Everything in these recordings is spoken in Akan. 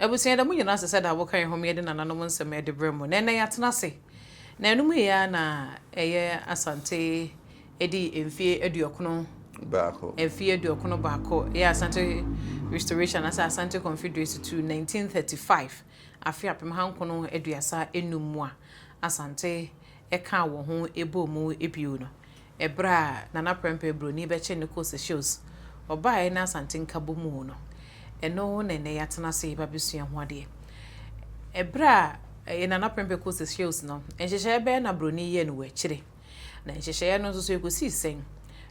Abusua da mu nyinaa ɛsɛ sɛ da woka yɛn ho ma yɛde nananom nsɛm ɛde brɛ mo. Na ɛnɛ yɛatena ase na ɛno mu yɛ ara na ɛyɛ Asante ɛdi mfeɛ aduɔkono baako mfeɛ aduɔkono baako ɛyɛ Asante Restoration anaasɛ Asante Confederacy to 1935 afe apem ha nkono aduasa nnum mu a Asante ɛkaa wɔ ho ɛbɔɔ mu bio no. Ɛberɛ a Nana Prɛmpɛ Broni bɛkyɛ no kɔɔ Seychelles, ɔbaeɛ ne Asante Nkabom o no, ɛno na ɛnnɛ yɛatena ase reba abɛsua ho adeɛ. Ɛberɛ a Nana Prɛmpɛ kɔɔ Seychelles no, nhyehyɛeɛ bɛn na Broni yɛɛ no wɔ akyire? Na nhyehyɛeɛ no nso so ɛkɔsii sɛn?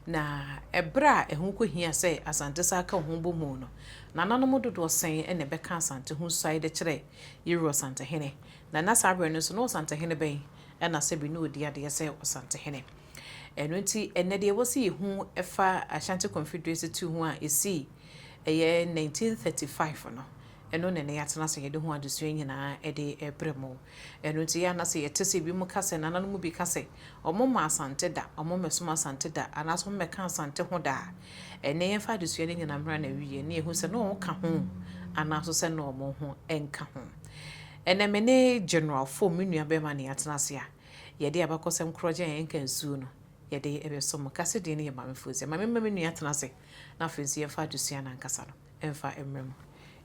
Na ɛberɛ a ɛho kɔhia sɛ Asante san ka ho bom o no, Nananom dodoɔ sɛn na ɛbɛka Asante ho suae de kyerɛ Yerua Osantehene? Na na saa berɛ no nso na Osantehene bɛn ɛna sɛbi na ɔdi adeɛ sɛ Ɔsantehene. Ɛno nti, ɛnnɛ deɛ ɛwɔ sɛ yɛhu fa Ashanti Confederacy tu ho a ɛsii ɛyɛ 1935 no, ɛno na ɛnnɛ yɛatena ase yɛde ho adesua nyinaa de rebrɛ mo. Ɛno nti, yɛ a na sɛ yɛte sɛ binom ka sɛ, nananom mu bi ka sɛ, wɔmma Asante da, wɔmmɛsom Asante da, anaasɛ wɔmmɛka Asante ho da a, ɛnnɛ yɛmfa adesua no nyinaa mmra n'awieɛ na yɛhu sɛ na wɔka ho anaa nso sɛ na wɔn ho nka ho. Ɛnnɛ me ne General Foh, me nuabarima ne yɛatena ase a, yɛde abakɔsɛm korɔgye a yɛnka nsuo no, yɛde bɛsom mo. Kase din no yɛ Maame Foozia. Ma memma me nua tena ase na afei nso yɛmfa adesua no ankasa no mfa mmrɛ mo.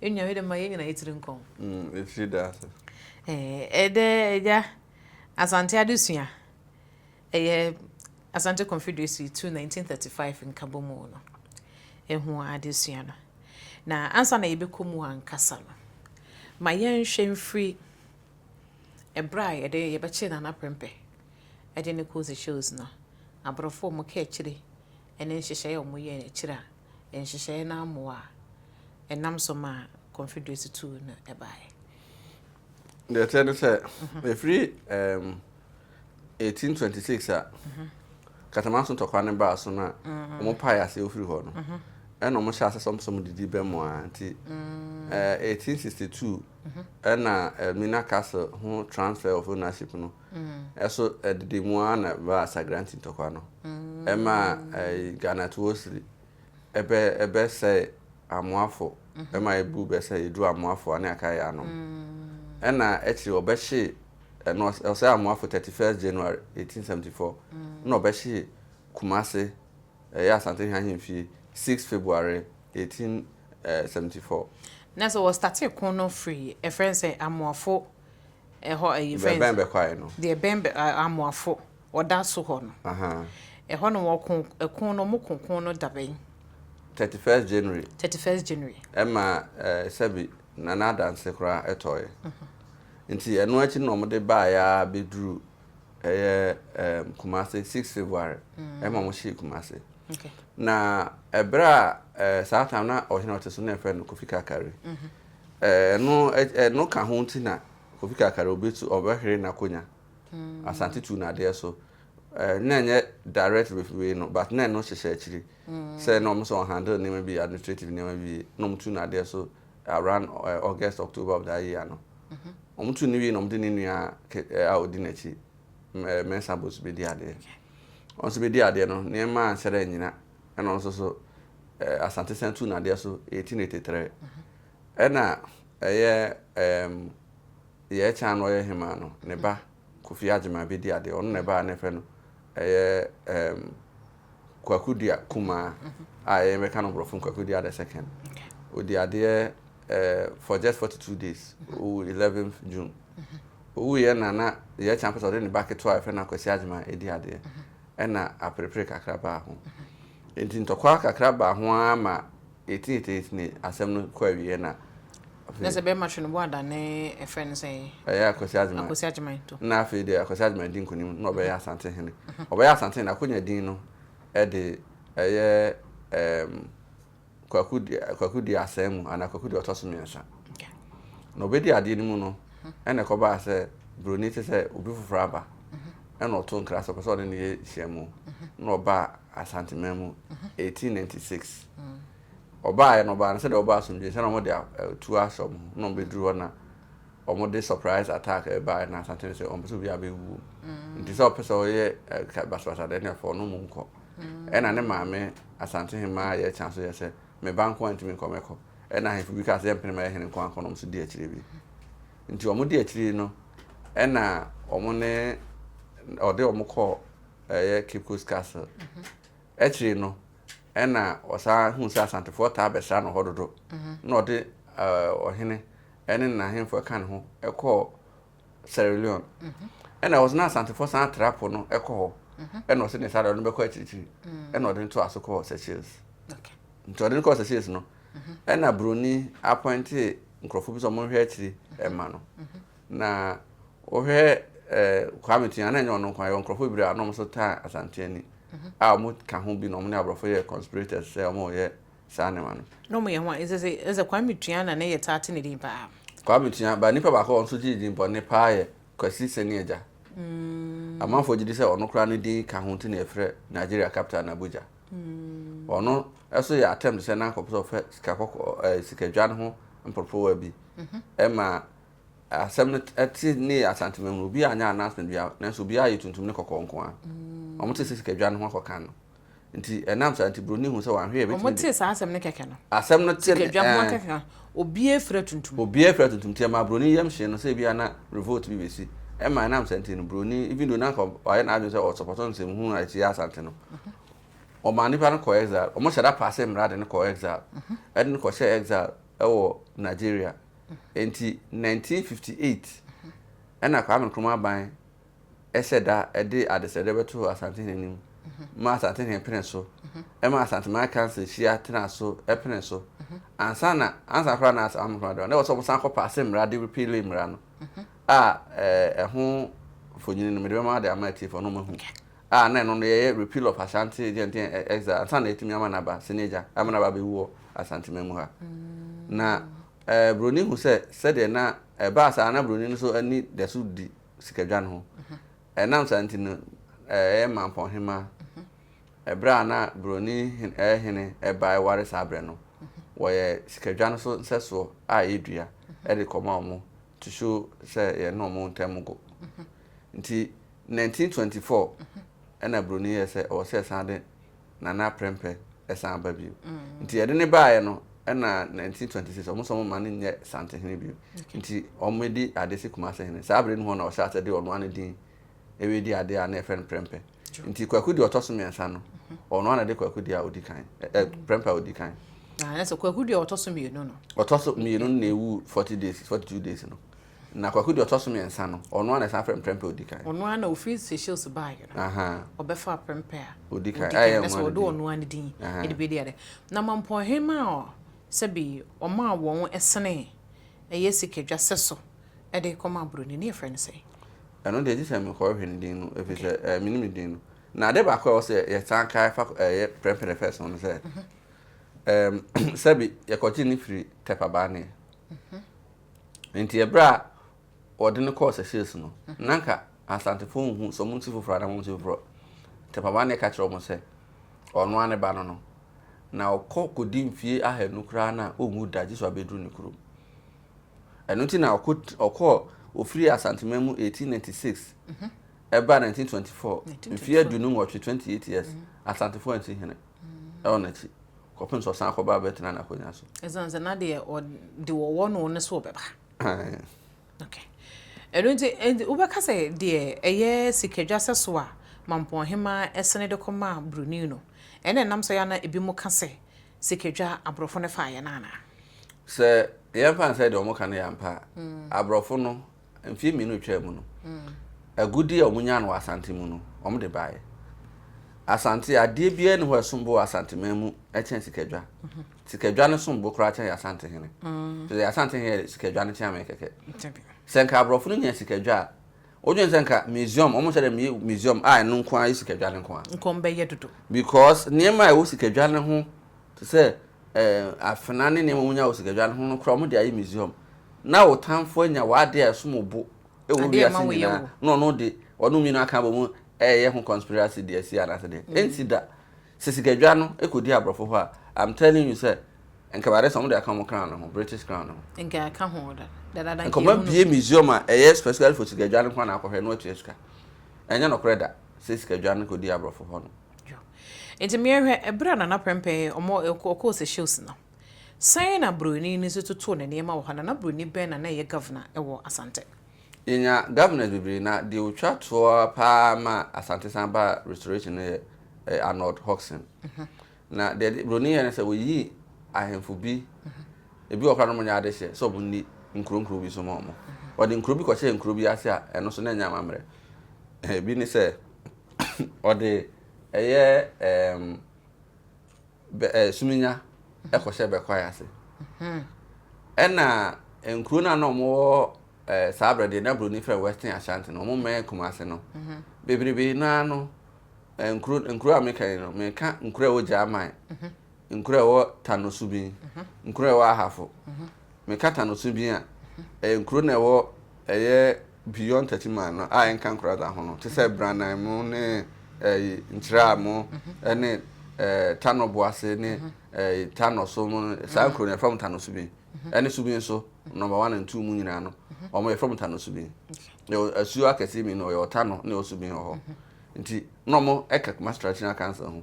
Yɛn nua, yɛde ma yɛn nyinaa yɛn tiri nkɔ ho. Ɛfiri da ase. Ɛɛ, ɛdɛ Agya. Asante adesua. Ɛyɛ Asante Confederacy tu 1935 nkabɔmu no ho adesua no. Na ansa na yɛbɛkɔ mu ankasa no, ma yɛnhwɛ mfiri ɛberɛ a yɛde yɛbɛkyee Nana Prempeh de no kɔɔ Seychelles no, aborɔfoɔ wɔn kaakyire ne nhyehyɛeɛ a wɔn yɛɛ akyire a nhyehyɛeɛ no ammoa a ɛnam so maa Confederacy tu no baeɛ. Deɛ ɛteɛ ne sɛ, ɛfiri ɛɛm. 1826 a Katamanso ntɔkwa no baa so no a wɔn pae ase ofiri hɔ no ɛna wɔn hyɛ ase sɛ wɔn sɛ wɔn didi bɛ mu a nti 1862 ɛna Elmina Castle ho transfer of ownership no ɛso ɛdidi mu a na baa Sagranti ntɔkwa no ɛma Ghana Tuosiri Ɛbɛ ɛbɛ sɛe amoafo ɛma ebu bɛ sɛ yeduru amoafo ane akaye anom. Ɛna akyiri ɔbɛhye ɛna ɔs ɔsɛe amoafo thirty first January eighteen seventy four ɛna ɔbɛhye Kumase ɛyɛ Asantehene ahemfie six February eighteen seventy four. Na sɛ wɔ statee ko no firi ɛfrɛ no sɛ amoafo ɛhɔ ɛyi fɛn. Deɛ ɛbɛn bɛkwae no. Deɛ ɛbɛn bɛ amoafo. Ɔda so hɔ no. Ɛhɔ nom ɔko ɛko no ɔmo ko ko no dabɛn? Thirty first January. Thirty first January. Ɛma ɛɛ sɛbi na n'adanse koraa ɛtɔɔɛ. Nti ɛno akyi no na ɔmo de baa yɛ ara bɛduru ɛyɛ ɛɛm Kumasi six February ɛma ɔmo hyee Kumasi. Na ɛbrɛ a ɛɛ saa time na ɔhene a ɔte so na yɛfrɛ no Kofi Kakari. Ɛɛ ɛno ɛno ka ho nti na Kofi Kakari ɔbɛtu ɔbɛhwere n'akonya. Asante tu no adeɛ so eh, na ɛnyɛ direct with wei no but na ɛno hyehyɛ akyiri mm. sɛ na ɔmo sɛ ɔhandle nneɛma bi administrative nneɛma bi wie na ɔmo tu no adeɛ so around uh, August October of that year no mhm. ɔmo tu no wie na ɔmo de ne nua eh, a ɔdi n'akyi eh, mɛnsa bos bɛdi adeɛ ɔno nso bɛdi adeɛ no nneɛma anhyɛ dɛ nyina ɛna ɔno nso so eh, Asante san tu no adeɛ so 1883 mhm. ɛna ɛyɛ um, Deɛ ɛkyɛ a na ɔyɛ hemaa no, ne ba Kofi Agyemang bɛdi adeɛ. Ɔno na ɛbaa a na yɛfrɛ no ɛyɛ ɛɛm Kwaku Dua Kumaa a ɛyɛ yɛbɛka no borɔfo no Kwaku Dua the second. Ɔdi adeɛ ɛɛ for just forty two days. Ɔwu eleventh June. Ɔwuiɛ na na deɛ ɛkyɛ a na ɔpɛ sɛ ɔde ne ba ketewa a yɛfrɛ no Akwasi Agyemang ɛdi adeɛ. Ɛna aperepere kakra baa ho. Nti ntɔkwa kakra baa ho ara ma Yɛtenetenetene asɛm no kɔ awieɛ na afei. Na sɛ bɛrima twe ne bo adane ɛfrɛ no sɛn? Ɛyɛ Akwasi Agyeman. Akwasi Agyeman to. Na afei deɛ Akwasi Agyeman di nkunim na ɔbɛyɛ Asantehene. Ɔbɛyɛ Asantehene akonya din no de ɛyɛ ɛɛm Kwaku Kwaku di Asae mu anaa Kwaku di ɔtɔ so mmiɛnsa. Na ɔbɛdi adeɛ no mu no ɛna ɛkɔbaa sɛ Buroni te sɛ obi foforɔ aba. na ɔtoo nkra sɛ ɔpɛ sɛ ɔne ne yere hyia mu na ɔbaa Asanteman mu 1896. Ɔbaeɛ no ɔbaa no sɛdeɛ ɔbaa asomdwoeɛ sɛ na wɔde atuo ahyɛ wɔn ho na wɔbɛduru hɔ na wɔde surprise attack ɛbaeɛ na Asante no sɛ ɔmpɛ sɛ obiara bɛwuo nti sɛ ɔpɛ sɛ ɔyɛ basabasa deɛ ne ɛfɔ no mu nkɔ ɛna ne maame Asante hemaa yɛ kyan so yɛ sɛ me ba nko a ntumi nkɔ mɛkɔ ɛna ahemfo bi kaa sɛ yɛmpene ma yɛ hene nko ankɔ na wɔn nso di akyire bi. Nti wɔn di akyiri yi no ɛna wɔn ne ɔde wɔn kɔ ɛyɛ Cape Coast Castle. Akyiri no ɛna ɔsan hu sɛ Asantefoɔ taa bɛsra no hɔ dodo. Na ɔde ɔhene ɛne n'ahemfoɔ ɛka ne ho ɛkɔɔ Sierra Leone. Ɛna ɔsɛ na Asantefoɔ san tra po no ɛkɔ hɔ. Ɛna ɔsɛ ne saa deɛ ɔde no bɛkɔ akyirikyiri. Ɛna ɔde no toa so kɔɔ Seychelles. Nti ɔde no kɔɔ Seychelles no. ɛna broni apɔnte nkurɔfoɔ bi sɛ ɔmo nhwɛ akyiri ɛma no na wohwɛ ɛɛ Kwame Tua na ɛnyɛ ɔno nko ayɛ nkurɔfoɔ bebree a na ɔmo so taa Asanteani a ɔmo ka ho bi na ɔmo ne aborɔfo yɛ conspirators sɛ ɔmo yɛ saa nneɛma no. Na ɔmo yɛ ho a ɛsɛ sɛ ɛsɛ Kwame Tua na ne yɛ taa te ne din paa. Kwame Tua ba nipa baako a ɔno nso gye ne din bɔne paa yɛ Kwasi Sani Agya. Amanfoɔ gye di sɛ ɔno koraa ne din ka ho nti na yɛfrɛ Nigeria capital no Abuja. Ɔno nso yɛ attempt sɛ na anka ɔpɛ sɛ ɔfa sika kɔkɔɔ ɛɛ sikadwa no ho mporoporowa bi. Ɛma asɛm no te ne yɛ Asante Mangoro. Obiara anyɛ announcement biara nanso obiara ayɛ tuntum ne kɔkɔɔ nko ara. Wɔte sɛ sikadwa no ho akɔka no. Nti ɛnam saa nti Buroni hu sɛ wanhwɛ yɛ bɛtumi de. Wɔte saa asɛm no kɛkɛ no. Asɛm no te ne ɛɛ. Sikadwa ho akɛka. Obiara fira tuntum. Obiara fira tuntum nti ɛmaa broni yam hyee no sɛ ebia na revolt bi besi. Ɛma ɛnam saa nti no broni even though na anka wayɛ n'adwene sɛ ɔ support nsɛmhunu a ɛtia Asante no, wɔmaa nnipa no kɔɔ exile. Wɔhyɛ da paase mmara de no kɔ exile. Ɛde no kɔhyɛɛ exile wɔ Nigeria. Enti 1958 ɛna Kwame Nkrumah ban hyɛ da de adesrɛdeɛ bɛto Asantehene anim ma Asantehene pene so, ɛma Asanteman Council hyia tena so pene so. Ansa na ansa koraa na Asantehene Nkrumah de na ɛwɔ sɛ wɔsan kɔ paase mmara de repeal mmara no a ɛho mfonini no mede bɛma de ama atiefoɔ no mahu a na ɛno no yɛyɛ repeal of Ashanti Gentile exile ansa na ɛtumi ama n'aba senior agya ama n'aba bɛwu wɔ Asanteman mu ha na Buroni hu sɛ sɛdeɛ na ɛbaa saa na Buroni no so ani da so di sikadwa no ho. Ɛnam saa nti no, ɛyɛ Mampɔn Hema. Ɛberɛ a na Buroni hene ɛbae ware saa berɛ no, wɔyɛ sikadwa no so nsɛsoɔ a ɛyɛ dua de kɔma wɔn to show sɛ yɛne wɔn ntam go. Nti 1924 ɛna Buroni yɛɛ sɛ ɔwɔ sɛ yɛsan de na na prɛmpɛ san aba bio. Nti yɛde no baeɛ no ɛna 1926 wɔn sɛ wɔn ma no nyɛ Santehene bio. Nti wɔn di adeɛ sɛ Kumasehene. Saa bere no hɔ na wɔhyɛ ase de ɔnoa no din ɛredi adeɛ a na yɛfrɛ no prɛmpɛ. Nti Kwaku deɛ ɔtɔ so mmiɛnsa no ɔnoa na de Kwaku deɛ a ɔdi kan ɛ prɛmpɛ a ɔdi kan. Na ɛsɛ Kwaku deɛ ɔtɔ so mmienu no. Ɔtɔ so mmienu no na ɛwu 40 days 42 days no. Na kwaku deɛ ɔtɔ so mmiɛnsa no, ɔno ara na ɛsan frɛ no prɛmpɛ a ɔdi kan. Ɔno ara na ɔfiri Seychelles baeɛ no, ɔbɛfaa prɛmpɛ a ɔdi kan, na sɛ wɔde ɔno ara ne din de bɛdi ade. Na Mampɔn Hemma a sɛbe ɔmaa wɔn senee ɛyɛ sikadwa sɛso de kɔmaa Buroni no, yɛfrɛ no sɛn? Ɛno deɛ, gye sɛ mekɔhwehwɛ ne din no, ɛfiri sɛ mennim ne din no. Na adeɛ baako a ɛwɔ sɛ yɛsan kae fa ɛyɛ Prɛmpɛ the First ho no sɛ, sɛbe yɛkɔgyee no firii Tɛpɛ Abaaneɛ. Enti ɛberɛ a wɔde no kɔɔ Seychelles no, na anka Asantefoɔ nhu sɛ wɔn nsi foforɔ anaa wɔn nsi foforɔ. Tɛpama na ɛka kyerɛ wɔn sɛ ɔno ara ne ba no no. Na ɔkɔ kɔdi mfie ahanu koraa na ɔnwu da gye sɛ wabɛduru ne kurom. Ɛno nti na ɔkɔ ɔkɔɔ ɔfiri Asanteman mu 1896 ɛbaa 1924 mfeɛ aduonu nwɔtwe 28 years Asantefoɔ ansi hene. wɔ n'akyi kɔpem sɛ ɔsan akɔba abɛtena n'akonya so. Ɛsan sɛ na deɛ ɔde wɔwɔ no ne so ɔbɛba. Okay. Ɛno nti ɛnti wobɛka sɛ deɛ ɛyɛ sikadwa sɛ so a Mampɔn hemaa ɛsene de kɔma Bruni no ɛna ɛnam so yɛ ana ebi mo ka sɛ sikadwa aborɔfo no faeɛ no anaa? Sɛ yɛmfa no sɛ deɛ wɔn ka no yɛ ampa a, aborɔfo no mfeɛ mmienu retwaa mu no agudeɛ a wɔnya no wɔ asante mu no wɔde baeɛ asante adeɛ biara ni hɔ ɛsom bo wɔ asanteman mu kyɛn sikadwa mhm. sikadwa no som bo koraa kyɛn asante hene mm. sɛ asante hene sikadwa no kyɛn amɛ kɛkɛ sɛ nka aborɔfo no nya sikadwa a wodwen sɛ nka museum wɔn sɛ dɛ museum a ɛno nko ara yɛ sikadwa no nko ara nkɔm bɛyɛ dodo because nneɛma a ɛwɔ sikadwa no ho Te sɛ afena ne nneɛma a wonya wɔ sikadwa no ho no koraa, wɔde ayɛ museum. Ná wo tamfo anya w'ade a ɛsom bo wɔ wiase nyinaa, na ɔno de, wɔnom mmienu aka abom reyɛ ho conspiracy de asi anaasɛ dɛn? Ɛnsi da. Sɛ sikadwa no kɔdi aborɔfo hɔ a, I'm telling you sɛ, nka ɛbɛade sɛ wɔde aka wɔn crown no ho, British crown no ho. Nka ɛka ho dadaada. Nka wɔabue museum a ɛyɛ specifically for sikadwa no nko ara na akɔhwɛ na wɔatua sika. Ɛnyɛ nokorɛ da sɛ sikadwa no kɔdi aborɔfo hɔ no. Yo. Enti meɛ hwɛ, ɛberɛ a Nana Prɛmpɛɛ ɔmɔ ɛkɔ, ɔkɔɔ Seychelles no, sɛn na Broni no nso totoo ne nneɛma wɔ hɔ? Nana Broni bɛn na na ɛyɛ Governor ɛwɔ Asante? Yɛnya Governors bebree, na deɛ ɔtwa toɔ ara pa ara maa Asante san baa Restoration no yɛ ɛɛ Arnold Hodgson. Na deɛ ɛde Broni yɛɛ ne sɛ, ɔyii Ahemfo bi, ɛbi wɔ hɔ koraa na wɔnyɛ adehyeɛ, sɛ wɔn nni nkuro nkuro bi so ma wɔn. Ɔde nkuro bi kɔhyɛɛ nkuro bi ase a, ɛno nso na ɛnyɛ amammerɛ. Ɛbi ne sɛ. ɔde ɛyɛ ɛɛm bɛ ɛɛ eh, suminya ɛkɔhyɛ bɛkwae ase ɛna nkuro no a na wɔwɔ ɛɛ eh, saa abirɛ deɛ na buroni fɛ western ashanti no wɔn mmɛn kumase no bebrebe naa no nkuro nkuro a meka yi no meka nkuro a ɛwɔ gyaman nkuro a ɛwɔ tanosu bi nkuro a ɛwɔ ahafo meka tanosu bi a ɛyɛ nkuro na ɛwɔ ɛyɛ. beyond thirty mile no a ɛnka nkoradza ho no te sɛ Branan mu ne ɛyi Nkyerɛa mu ɛne ɛɛ Tanɔ Boase ne ɛyi Tanɔ so mu saa nkuro no yɛfrɛ mo Tanɔ Subin ɛne Subin so number one and two mu nyinaa no wɔn yɛfrɛ mo Tanɔ Subin yɛwɔ asuo akɛseɛ mmienu yɛwɔ Tanɔ ne yɛwɔ Subin wɔ hɔ nti na wɔn ɛka Kumasi Traditional Council ho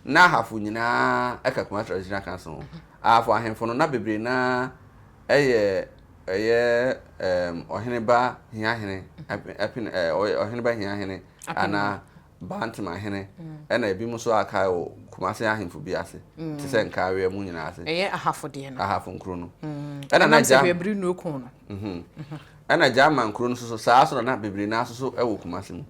na ahafo nyinaa ɛka Kumasi Traditional Council ho ahafo ahemfo no na bebree naa ɛyɛ. ɛyɛ ɛɛm ɔheneba hiahene ɛpene ɛpene ɛɛ ɔyɛ ɔheneba hiahene anaa bantemahene ɛna ebinom nso a kae wɔ kumase ahemfo bi ase te sɛ nkaaweɛ mu nyinaa ase ɛyɛ ahafo deɛ no ahafo nkuro no ɛna na ɛnam sɛ gya hwɛbiri nnuo kɔn no ɛna gya ama nkuro no nso so saa nso na na bebree naa nso so ɛwɔ kumase mu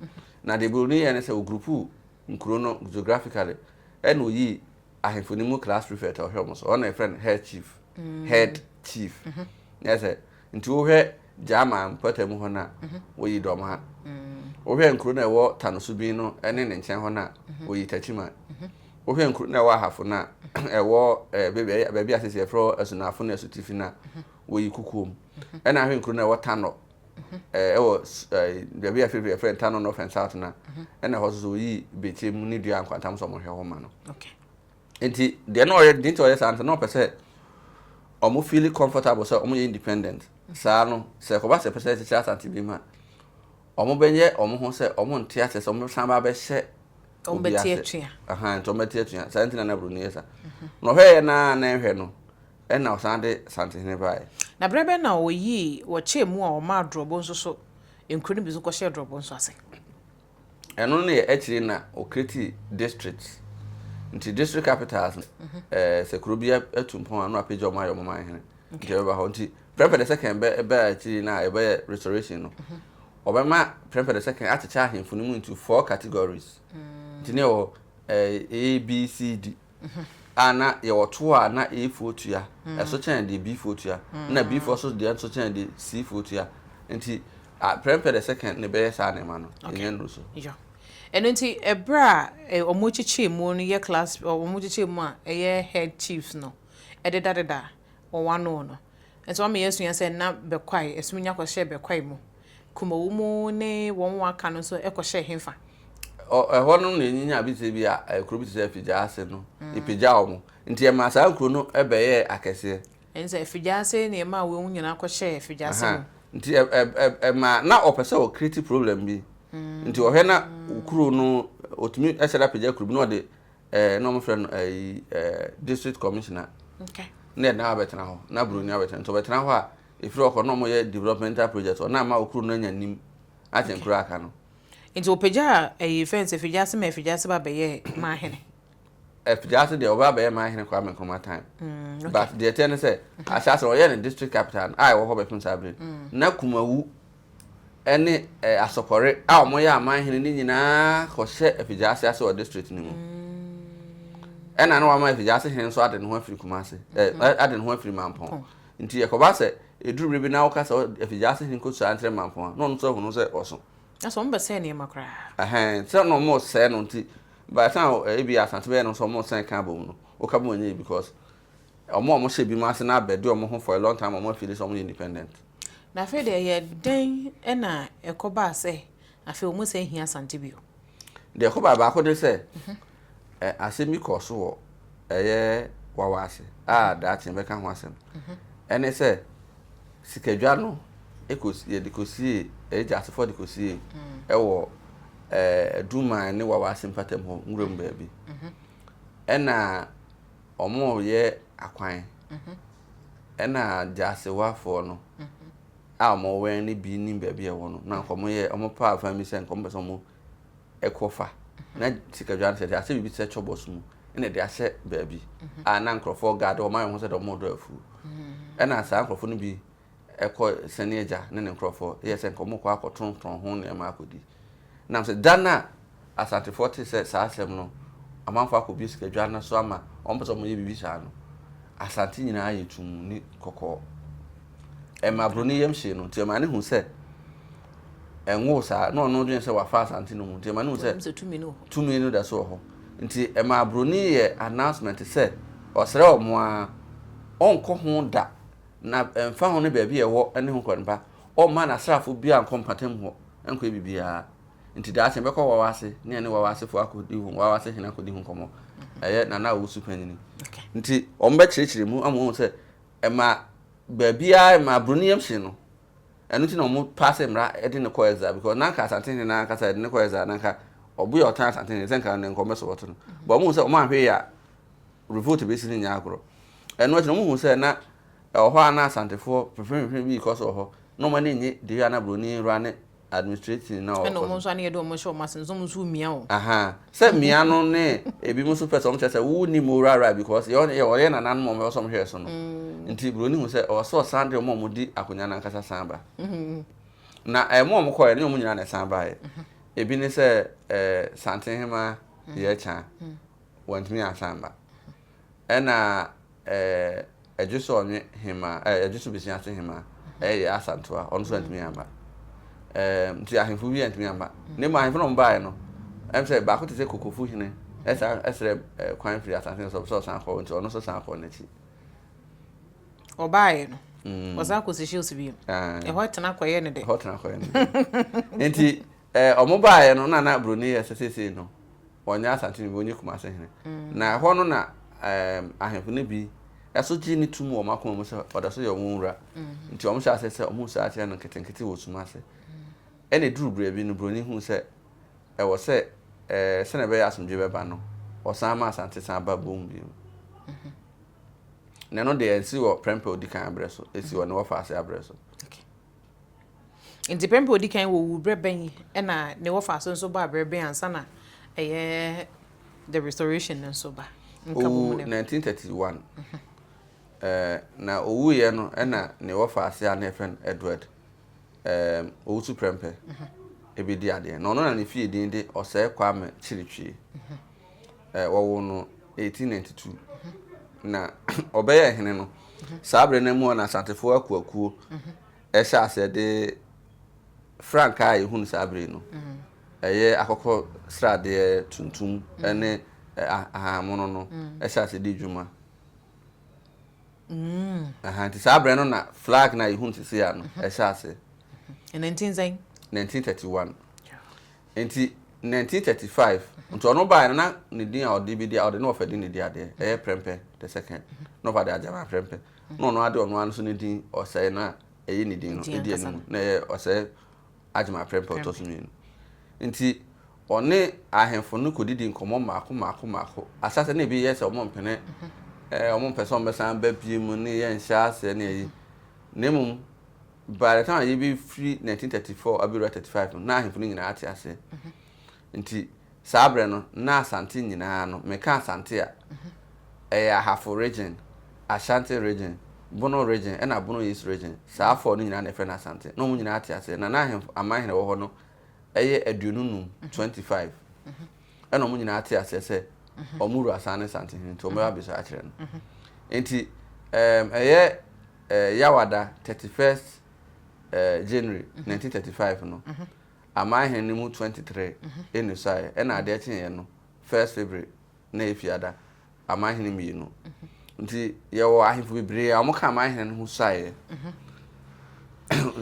na deɛ buroni yɛ ne sɛ ɔgurupu nkuro no geographically ɛna oyii ahemfo no mu class prefect ɔhwɛ wɔn so ɔno na yɛfrɛ no head chief mm. head chief mm-hmm. na yɛ sɛ nti wohwɛ gyama mpɔtam hɔ no a mm-hmm. woyi dɔm ha mm. wohwɛ nkuro no a ɛwɔ tanoso bi no ne ne nkyɛn hɔ no a mm-hmm. woyi takyima wohwɛ nkuro no a ɛwɔ ahafo no a ɛwɔ eh, baabi a sɛ yɛfrɛ asunafo no asutifi no a woyi kukuom ɛna ahwɛ nkuro no a ɛwɔ tanɔ ɛwɔ baabi a fɛfɛ yɛfrɛ Ntano North and South na ɛna hɔ soso yi bekyire mu ne dua nkwantam sɛ wɔhwɛ hɔ ma no nti deɛ na ɔyɛ deɛ nti ɔyɛ saa nti na ɔpɛ sɛ wɔn feel comfortable sɛ wɔn yɛ independent saa no sɛ kɔba sɛ pɛ sɛ ɛkyekyere asante bi mu a wɔn bɛyɛ wɔn ho sɛ wɔn nte ase sɛ wɔn san ba bɛhyɛ wɔn bɛte atua ahan nti wɔn bɛte atua saa nti na na buroni yɛ saa na ɔhwɛ yɛ na na nhwɛ no. Ɛnna ɔsan de Asantehene bae. Na berɛ bɛn na ɔyii, wɔkyɛɛ mu a ɔmaa Drɔbo nso so nkuro no bi nso kɔhyɛɛ Drɔbo nso ase? Ɛno no yɛ akyire na ɔcreatii districts. Nti district capitals no, ɛɛ, sɛ kuro bi atu mpɔn a, na wɔapagya wɔn ayɛ wɔn man hene. Nti ɛbɛba hɔ. Nti Prempeh the Second bɛ, baa akyiri no a yɛbɛyɛ Restoration no, wɔbɛma Prempeh the Second akyekyɛ ahemfo no mu into four categories. Nti na yɛwɔ, ɛɛ, A, B, C, D. ho. A na yɛwɔ toɔ a na A foɔ tua, ɛso kyɛn deɛ B foɔ tua, ɛna B foɔ nso deɛ nso kyɛn deɛ C foɔ tua. Nti prɛmpɛ the second na ɛbɛyɛ saa nneɛma no, yɛnya nnuru so. Yɔ. Ɛno nti ɛberɛ a wɔkyekyɛɛ mu no yɛ class, wɔkyekyɛɛ mu a ɛyɛ head chiefs no ɛdedadeda wɔn ano no, Nso ama yɛasua sɛ na Bekwai, ɛsum nya kɔhyɛɛ Bekwai mu, Kumawu mu ne wɔn a aka no nso kɔhyɛɛ hefa? Ɔ, ɛhɔ no na ɛnyinya abisɛ bi a ɛ, kuro bi te sɛ Afigyaase no, ɛpagyaa wɔn. Nti ɛmaa saa kuro no bɛyɛɛ akɛseɛ. Ɛne sɛ Afigyaase na ɛmaa wei mu nyinaa kɔhyɛɛ Afigyaase mu. Aha, nti ɛ, ɛ, ɛ, ɛmaa, na ɔpɛ sɛ ɔ create problem bi. Nti ɔhwɛ na kuro no, ɔtumi sɛre apagya kuro bi na ɔde Eh, na wɔfrɛ no ayi eh, eh, district commissioner okay. na ɛna abɛtena hɔ na buroni abɛtena nti ɔbɛtena hɔ a ɛfiri ɔkɔ na ɔmɔyɛ developmental project ɔna ama ɔkuro no anya nim akyɛn kuro aka no nti ɔpagya ayi fɛn sɛ figya ase ma afigya ase ba bɛyɛ maa hene afigya ase deɛ ɔbaa bɛyɛ maa hene Kwame Nkrumah time mm, but deɛ ɛteɛ ne sɛ ahyɛ ase ɔyɛ ne district capital a ɛwɔ hɔ bɛpem saa bere mm. na Kumawu ne asɔkɔre a wɔyɛ amanhene no nyinaa kɔhyɛ Afigyaase ase wɔ district no mu. Ɛna na wama Afigyaase hene nso ade ne ho afiri Kumase, mm-hmm. ade ne ho afiri Mampɔn. Nti yɛkɔba sɛ ɛduru bere bi na woka sɛ Afigyaase hene kɔsua nkyerɛ Mampɔn a, na ɔno nso ahunu sɛ ɔso. Ɛsɛ wɔn bɛsɛe nneɛma koraa. Ɛhɛn, sɛ na wɔn sɛe no nti, by the time ebi asante bɛyɛ no nso wɔn sɛn kan bɔ mu no, woka bɔ mu nyɛ because wɔn a wɔhyɛ bi mu ase na abɛde wɔn ho for a long time wɔn afiri sɛ wɔn yɛ independent. Na afei deɛ yɛ dɛn na ɛkɔbaa sɛ afei wɔn sɛ hia asante bio? Deɛ ɛkɔbaa baako ne sɛ mhm. ɛ asɛm bi kɔɔ so wɔ ɛyɛ wawa ase a mhm. daakye bɛka ho asɛm mhm. ɛne sɛ sikadwa no yɛde kɔsie ɛyɛ gyasefoɔ de kɔsie mm. ɛwɔ ɛɛ duman ne wawa ase mpatam hɔ nwura mu baabi ɛna wɔn yɛ akwan Ɛna Gyaasewafoɔ no a wɔn wɛn no bi nim baabi a ɛwɔ no, na nka wɔn yɛ wɔn paa fan bi sɛ nka wɔn pɛ sɛ wɔn ɛkɔ fa. Na sikadwa no sɛ de asɛ biribi sɛ kyɔbɔs mu, ɛna ɛde ahyɛ baabi a na nkorɔfoɔ gaade wɔn ayɛ wɔn ho sɛ de wɔn redɔ afuo. Ɛna saa nkorɔfoɔ no bi ɛkɔ sɛnea agya ne ne nkurɔfoɔ yɛ sɛ nka wɔrekɔ akɔtontɔn ho nneɛma akɔdi. Nam sɛ da no a Asantefoɔ tee sɛ saa asɛm no, amanfoɔ akɔbue sikadwa no so ama wɔpɛ sɛ wɔyɛ biribi saa no, Asante nyinaa ayɛ tumm ne kɔkɔɔ. Ɛma Aburoni yam hyee no, nti ɛma ne hu sɛ ɛnwoo saa, na ɔno dwene sɛ wafa Asante no mu, nti ɛma ne hu sɛ tumi no da so wɔ hɔ. Nti ɛma Aburoni yɛ announcement sɛ ɔsrɛ wɔn ara, ɔnkɔ ho da Na ɛmfa ho ne baabi a ɛwɔ ne ho kwan pa, ɔremma n'asraafo biara nkɔ mpɔtam hɔ nkɔyɛ biribiara. Enti daakye mɛkɔ Wawa ase ne ɛne Wawa asefo akodi ho, Wawa ase hene akodi ho nkɔmmɔ. Ɛyɛ Nana a ɔwɔ su panyin. Nti wɔbɛkyerɛkyerɛ mu ama wɔahu sɛ ɛma baabiara ɛma aburoni yam hye no. Ɛno nti na wɔn paa sɛ mmara ɛde ne kɔ ɛza because na nka asante hene naa kasa ɛde ne kɔ ɛza na nka ɔbo yɛ ɔtan asante hene sɛ nka ne nkɔmɛ so wɔto no. But wɔn hu sɛ wɔn ahwɛ yɛ a revolt besi no nyɛ agorɔ. Ɛno akyi no, wɔhuu sɛ na ɛwɔ hɔ a na Asantefoɔ mfimfini bi rekɔ so wɔ hɔ, na wɔn ani nnye deɛ a na Buroni wura ne administrating na ɔrekɔ so. Ɛna wɔn nso a na yɛde wɔn hyɛ wɔn ase no, sɛ wɔn nso remia wɔn. Ahaa, sɛ mmea no ne ebinom nso pɛ sɛ wɔkyerɛ sɛ wonni mu wuraraa because yɛ wɔn yɛ wɔyɛ nananom a wɔbɛkɔ so wɔhwɛɛ so no nti, Buroni hu sɛ ɔwɔ sɛ ɔsan de wɔn a wɔdi akonnwa no ankasa san ba. Na ɛɛ mo a wɔkɔeɛ no, ɛnyɛ wɔn nyinaa na ɛsan baeɛ. Ebi ne sɛ ɛɛ Santen Hemaa Yɛɛkyaa. wɔantumi ansan amma. Ɛna Adwusoɔnwe hemaa, ɛɛ Adwuso Besia so hemaa, ɛyɛ Yaa Asantewaa, ɔno nso antumi amma. Ɛɛm, nti ahemfo bi antumi amma. Na mmom ahemfo no wɔbaeɛ no, ɛm sɛ baako te sɛ Kokofo hene ɛsan ɛsrɛ kwan firi asase no so sɛ ɔsan kɔ hɔ, nti ɔno nso san kɔɔ n'akyi. Ɔbaeɛ no, ɔsan kɔɔ Seychelles bio. Ɛhɔ tena kɔyɛ ne dɛ. Ɛhɔ tena kɔyɛ ne dɛ. Nti Eh ɔmo baeɛ no na na broni yɛ sɛ seesei no ɔnyɛ Asante hene ɔnyɛ Kumase hene na ɛhɔ no na ehm ahemfo no bi ɛso gye no tum wɔ ɔmo akoma mu sɛ ɔdɔso yɛ ɔmo nwura nti ɔmo hyɛ aseɛ sɛ ɔmo saa kyerɛ no nketenkete wɔ sum ase ɛna ɛduru berɛ bi no broni huu sɛ ɛwɔ sɛ eh sɛnea ɛbɛyɛ asomdwoe bɛba no ɔsan ma Asante san ba boom bio na ɛno deɛ ɛnsi wɔ prɛmpɛ ɔdi kan abrɛ so ɛsi wɔ ne wɔfa ase abrɛ so. Ntsi ber a odzi kan wowu, ber bɛn na ne wɔfaa so so baa ber bɛn ansaana ɛyɛ the restoration no so ba? Owuu 1931, na owuiɛ no na ne wɔfa ase a na yɛfrɛ no Edward Owusu-Prempeh bɛdi adeɛ. Na ɔno na ne fie din de Osei Kwame Kyiritwie. eh, wɔwo no 1892 na ɔbɛyɛ hene no saa berɛ no mu na asantefoɔ akuakuo ɛhyɛ aseɛ de frankaa a yɛhunu saa berɛ no ɛyɛ akɔkɔ sradeɛ tuntum ne ahahamono no ɛhyɛ aseɛ de dwuma nti saa berɛ no na flag no a yɛhunu sisi a no ɛhyɛ aseɛ 1931 Nti nineteen thirty five nti ɔno baeɛ no na ne din a ɔde bɛdi a ɔde ne wɔfa din na ɛdi adeɛ ɛyɛ Prempeh the second na wɔfa de Agyama Prempeh na ɔno ade ɔno ara nso ne din ɔsɛe na ɛyɛ ne din no ɛdi anim na ɛyɛ ɔsɛe Agyama Prempeh ɔtɔ so mmienu nti ɔne ahemfo no kɔdidi nkɔmmɔ mmaako mmaako mmaako ahyɛsɛ na ebi yɛ sɛ wɔn mpene ɛɛ wɔn mpɛ sɛ wɔn bɛsan ba bie mu ne yɛnhyɛ aseɛ ne ɛyi na mmom by the time a yɛbɛfiri 1934 abɛwura 35 no na ahemfo no nyinaa ate ase nti saa berɛ no na Asante nyinaa no meka Asante a ɛyɛ Ahafo region, Ashanti region, Bono region ɛna Bono East region saa four no nyinaa na ɛfrɛ no Asante na wɔn nyinaa ate aseɛ na na ahemfo amanhene wɔ hɔ no ɛyɛ aduonu num, 25. ɛna wɔn nyinaa te aseɛ sɛ wɔn wura san ne santehene nti wɔbɛba abisa akyerɛ no nti ɛɛm ɛyɛ ɛɛ yawada thirty first ɛɛ january nineteen thirty five no amanhene no mu twenty three ɛnusaeɛ ɛna adeɛ kyeeɛ no first february na ɛyɛ fiada amanhene mmienu nti yɛwɔ ahemfo bebree a wɔka amanhene no ho suaeɛ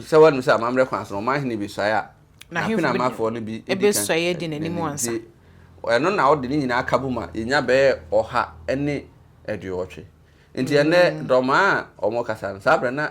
sɛ wɔnum sɛ amammerɛ kwan so ɔmanhene bi suaeɛ a n'apene amanfoɔ no bi di kan nti ɛno na ɔde ne nyinaa ka bom a yɛnya bɛyɛ ɔha ne aduowɔtwe nti ɛnɛ dɔmaa a wɔkasa no saa berɛ na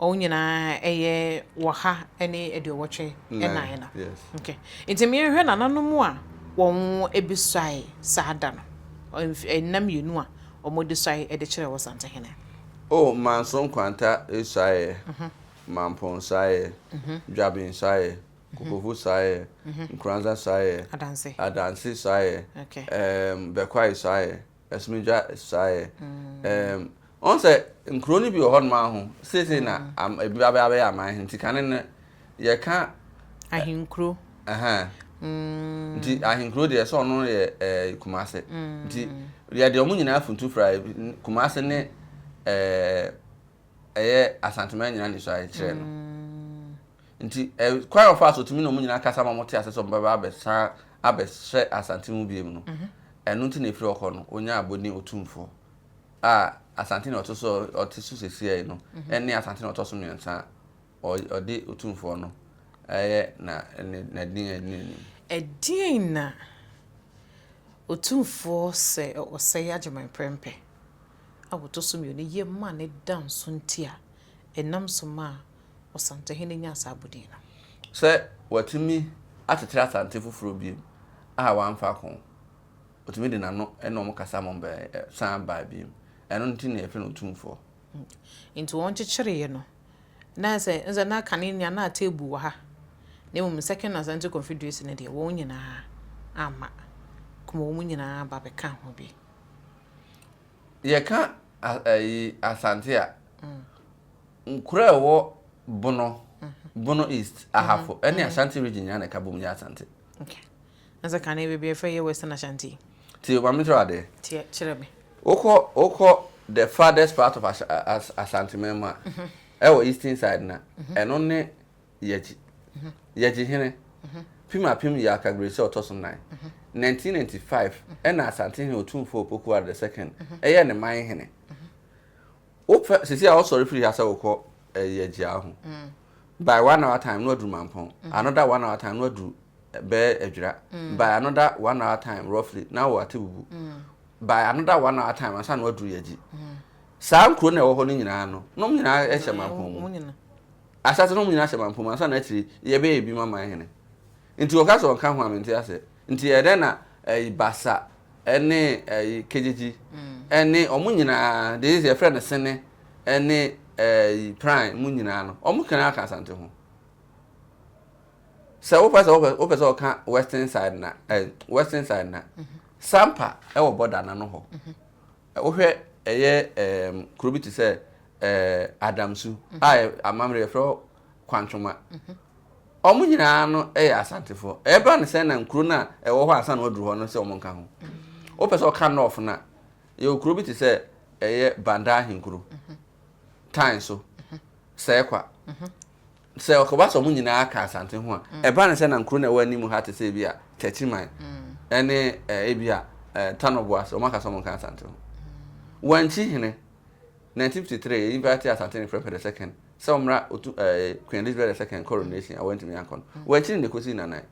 Wɔn nyinaa yɛ ɔha ne aduowɔtwe nan no. Okay. Nti meɛhwɛ nananom a wɔn bi suae saa da no. Nna mmienu a wɔn de suae de kyerɛ wɔ Santehene. Oh, Manso Nkwanta suaeɛ, Mampong suaeɛ, Dwaben suaeɛ, Kokovu suaeɛ, Nkoranza suaeɛ, Adanse suaeɛ, Bɛkwae suaeɛ. Asumdwa suaeɛ. Um, ɔn sɛ nkuro no bi wɔ hɔnom aho seesei na mm. ebi abɛyɛ abɛyɛ aman nti kane no yɛka ahenkuro mm. nti ahenkuro deɛ sɛ ɔno yɛ eh, kumase mm. nti yɛde ɔmo nyinaa funtu fra kumase ne eh, ɛyɛ asantuma nyinaa ne suaeɛ kyerɛ no Nti ɛ kwan a wɔfaa so tumi ne wɔn nyinaa kasa ma wɔte ase sɛ wɔbɛba abɛsan abɛhyɛ Asante mu biom no, ɛno nti na ɛfiri hɔ kɔ no wɔnyaa Abodin Otumfoɔ a Asante na ɔte so ɔte so sesiai no ne Asante na ɔtɔ so mmiɛnsa a ɔ ɔde Otumfoɔ no ɛyɛ na ne nadin a ɛdi n'anim. Ɛdeɛn na Otumfoɔ sɛ ɔsɛe Agyeman Prɛmpɛ? a wɔto so mmienu yɛ maa no da nso nti a ɛnam so maa Ɔsantehene nyaa saa abodin no. Sɛ watumi akyekyere Asante foforɔ bio a wamfa ako, ɔtumi de n'ano ne wɔn kasa ma wɔbɛn san baa bio. Ɛno nti na yɛfrɛ no Otumfoɔ. Nti wɔn kyekyeree no na sɛ sɛ na kane nni a na ateebu wɔ ha na mmom Second Asante Confederation no deɛ wɔn nyinaa amma kuma wɔn nyinaa ba bɛkaa ho bi. Yɛka ayi Asante a, nkura ɛwɔ Bono, mhm. Bono East, mhm. Ahafo, ɛne mhm. Ashanti region nyinaa na ɛka bom yɛ Asante. Okay. Na sɛ kane baabi ɛfɛ yɛ Western Ashanti. Ti maame kyerɛ adeɛ. Tiɛ kyerɛ me. Wokɔ wokɔ the farthest part of Ashanti man mu a, ɛwɔ eastern side na ɛno ne Yɛgye. Yɛgye hene. Pim apem yɛ Akagbiresi a ɔtɔ so nan. 1995 ɛna Asantehene Otumfoɔ Opoku Ware the second ɛyɛɛ ne man hene. Wopɛ sisi a wosɔre firi ha sɛ wokɔ eh, Yɛgye a ho. By one hour time no aduru Mampɔn. Another one hour time no aduru bɛɛ Adwira. By another one hour time roughly na wɔ Atebubu. By another one hour time ansa na waduru Yɛgye. Saa nkuro na ɛwɔ hɔ no nyinaa no nom nyinaa ɛhyɛ Mampɔn mu. Asase no mu nyina hyɛ mampom, ansa na akyiri yi yɛbɛyɛ ebi ma man hene. Nti ɔka sɛ ɔnka ho a mente aseɛ. Nti ɛyɛ dɛn na ɛyi Basa ɛne ɛyi Kegyegyi ɛne ɔmo nyinaa deɛ sɛ yɛfrɛ no Sene ɛne ɛyi Pran mo nyinaa no ɔmo kena aka Asante ho. Sɛ wopɛ sɛ wopɛ wopɛ sɛ ɔka Western side na ɛyi Western side na Sampa ɛwɔ border na no hɔ. Wohwɛ ɛyɛ ɛɛm kuro bi te sɛ ɛɛ Adamsu mhm. a amammerɛ yɛfrɛ hɔ Kwantwoma. Mhm. Wɔn nyinaa no yɛ Asantefoɔ. Ɛbɛba ne sɛ na nkuro no a ɛwɔ hɔ a asan na wɔaduru hɔ no sɛ wɔn nka ho. Mhm. Wopɛ sɛ ɔka nɔɔfo no a, yɛwɔ kuro bi te sɛ ɛyɛ Bandaa Ahenkuro, Tan so, Sɛɛkwa. Sɛ ɔkɔba sɛ wɔn nyinaa ka Asante ho a, ɛba no sɛ na nkuro no a ɛwɔ anim ha te sɛ ebi a Takyiman ne ebi a Tano Boase, wɔaka sɛ wɔnka Asante ho. Wankyi hene, 1953, yɛ invite Asante ne Prempeh the Second sɛ wɔmmra Otu, eh, Queen Elizabeth the Second coronation a wantumi ankɔ no. Wankyi no de kɔsi Nnanan.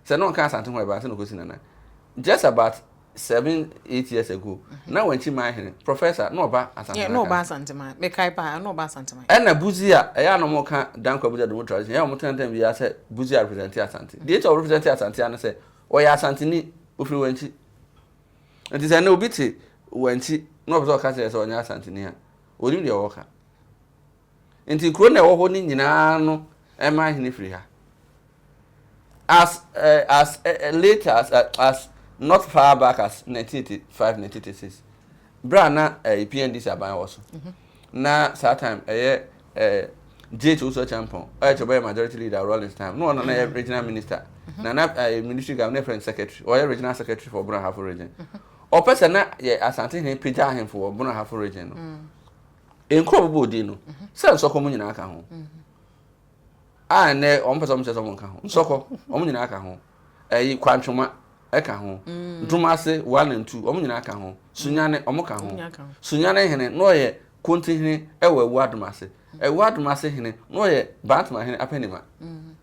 sɛ na ɔnka asante ho ɛbaa sɛ na ɔkɔsi nana just about seven eight years ago mhm. na wɔnkyi maa hene professor na ɔba asantema na ɔba asantema mekae paa na ɔba asantema ɛna buzi a ɛyɛ anam ɔka dankwa buzi adomo tradition ɛyɛ ɔmo tɛntɛn bi asɛ buzi a represent asante mhm. deɛ ɛkyɛ ɔrepresent asante ano sɛ ɔyɛ asanteni ofiri wɔnkyi nti sɛ ɛnna obi te wɔnkyi na ɔpɛ sɛ ɔka kyerɛ sɛ ɔnyɛ asanteni a onim deɛ ɔwɔ ka Enti nkuro na ɛwɔ hɔ no nyinaa no ɛma ahene firi ha. As eh, as eh, eh late as, eh, as not far back as 1985, 1986. Berɛ a na eh, PNDC aban wɔ so. Mhm. Na saa time ɛyɛ eh, JH Osuo Champon, ɔyɛ kyɛ ɔbɛyɛ majority leader Rawlings time. No ɔno na ɛyɛ mhm. regional minister. Mhm. Na na eh, ministry governor ne friend secretary, ɔyɛ regional secretary for Bono Ahafo region. Ɔpɛ sɛ na yɛ Asante hene pagya ahemfo wɔ Bono Ahafo region no. Mm. Nkuro bobɔ odin no sɛ nsɔkɔ mu nyinaa ka ho a ɛnɛ wɔn mpɛ sɛ wɔn kyerɛ sɛ wɔn ka ho nsɔkɔ wɔn nyinaa ka ho ɛyi kwantwoma ɛka ho mm. ntomase one and two wɔn nyinaa ka ho sunyane wɔn ka ho sunyane hene na ɔyɛ konti hene ɛwɔ ɛwɔ adomase ɛwɔ adomase hene na ɔyɛ bantama hene apɛnima mm.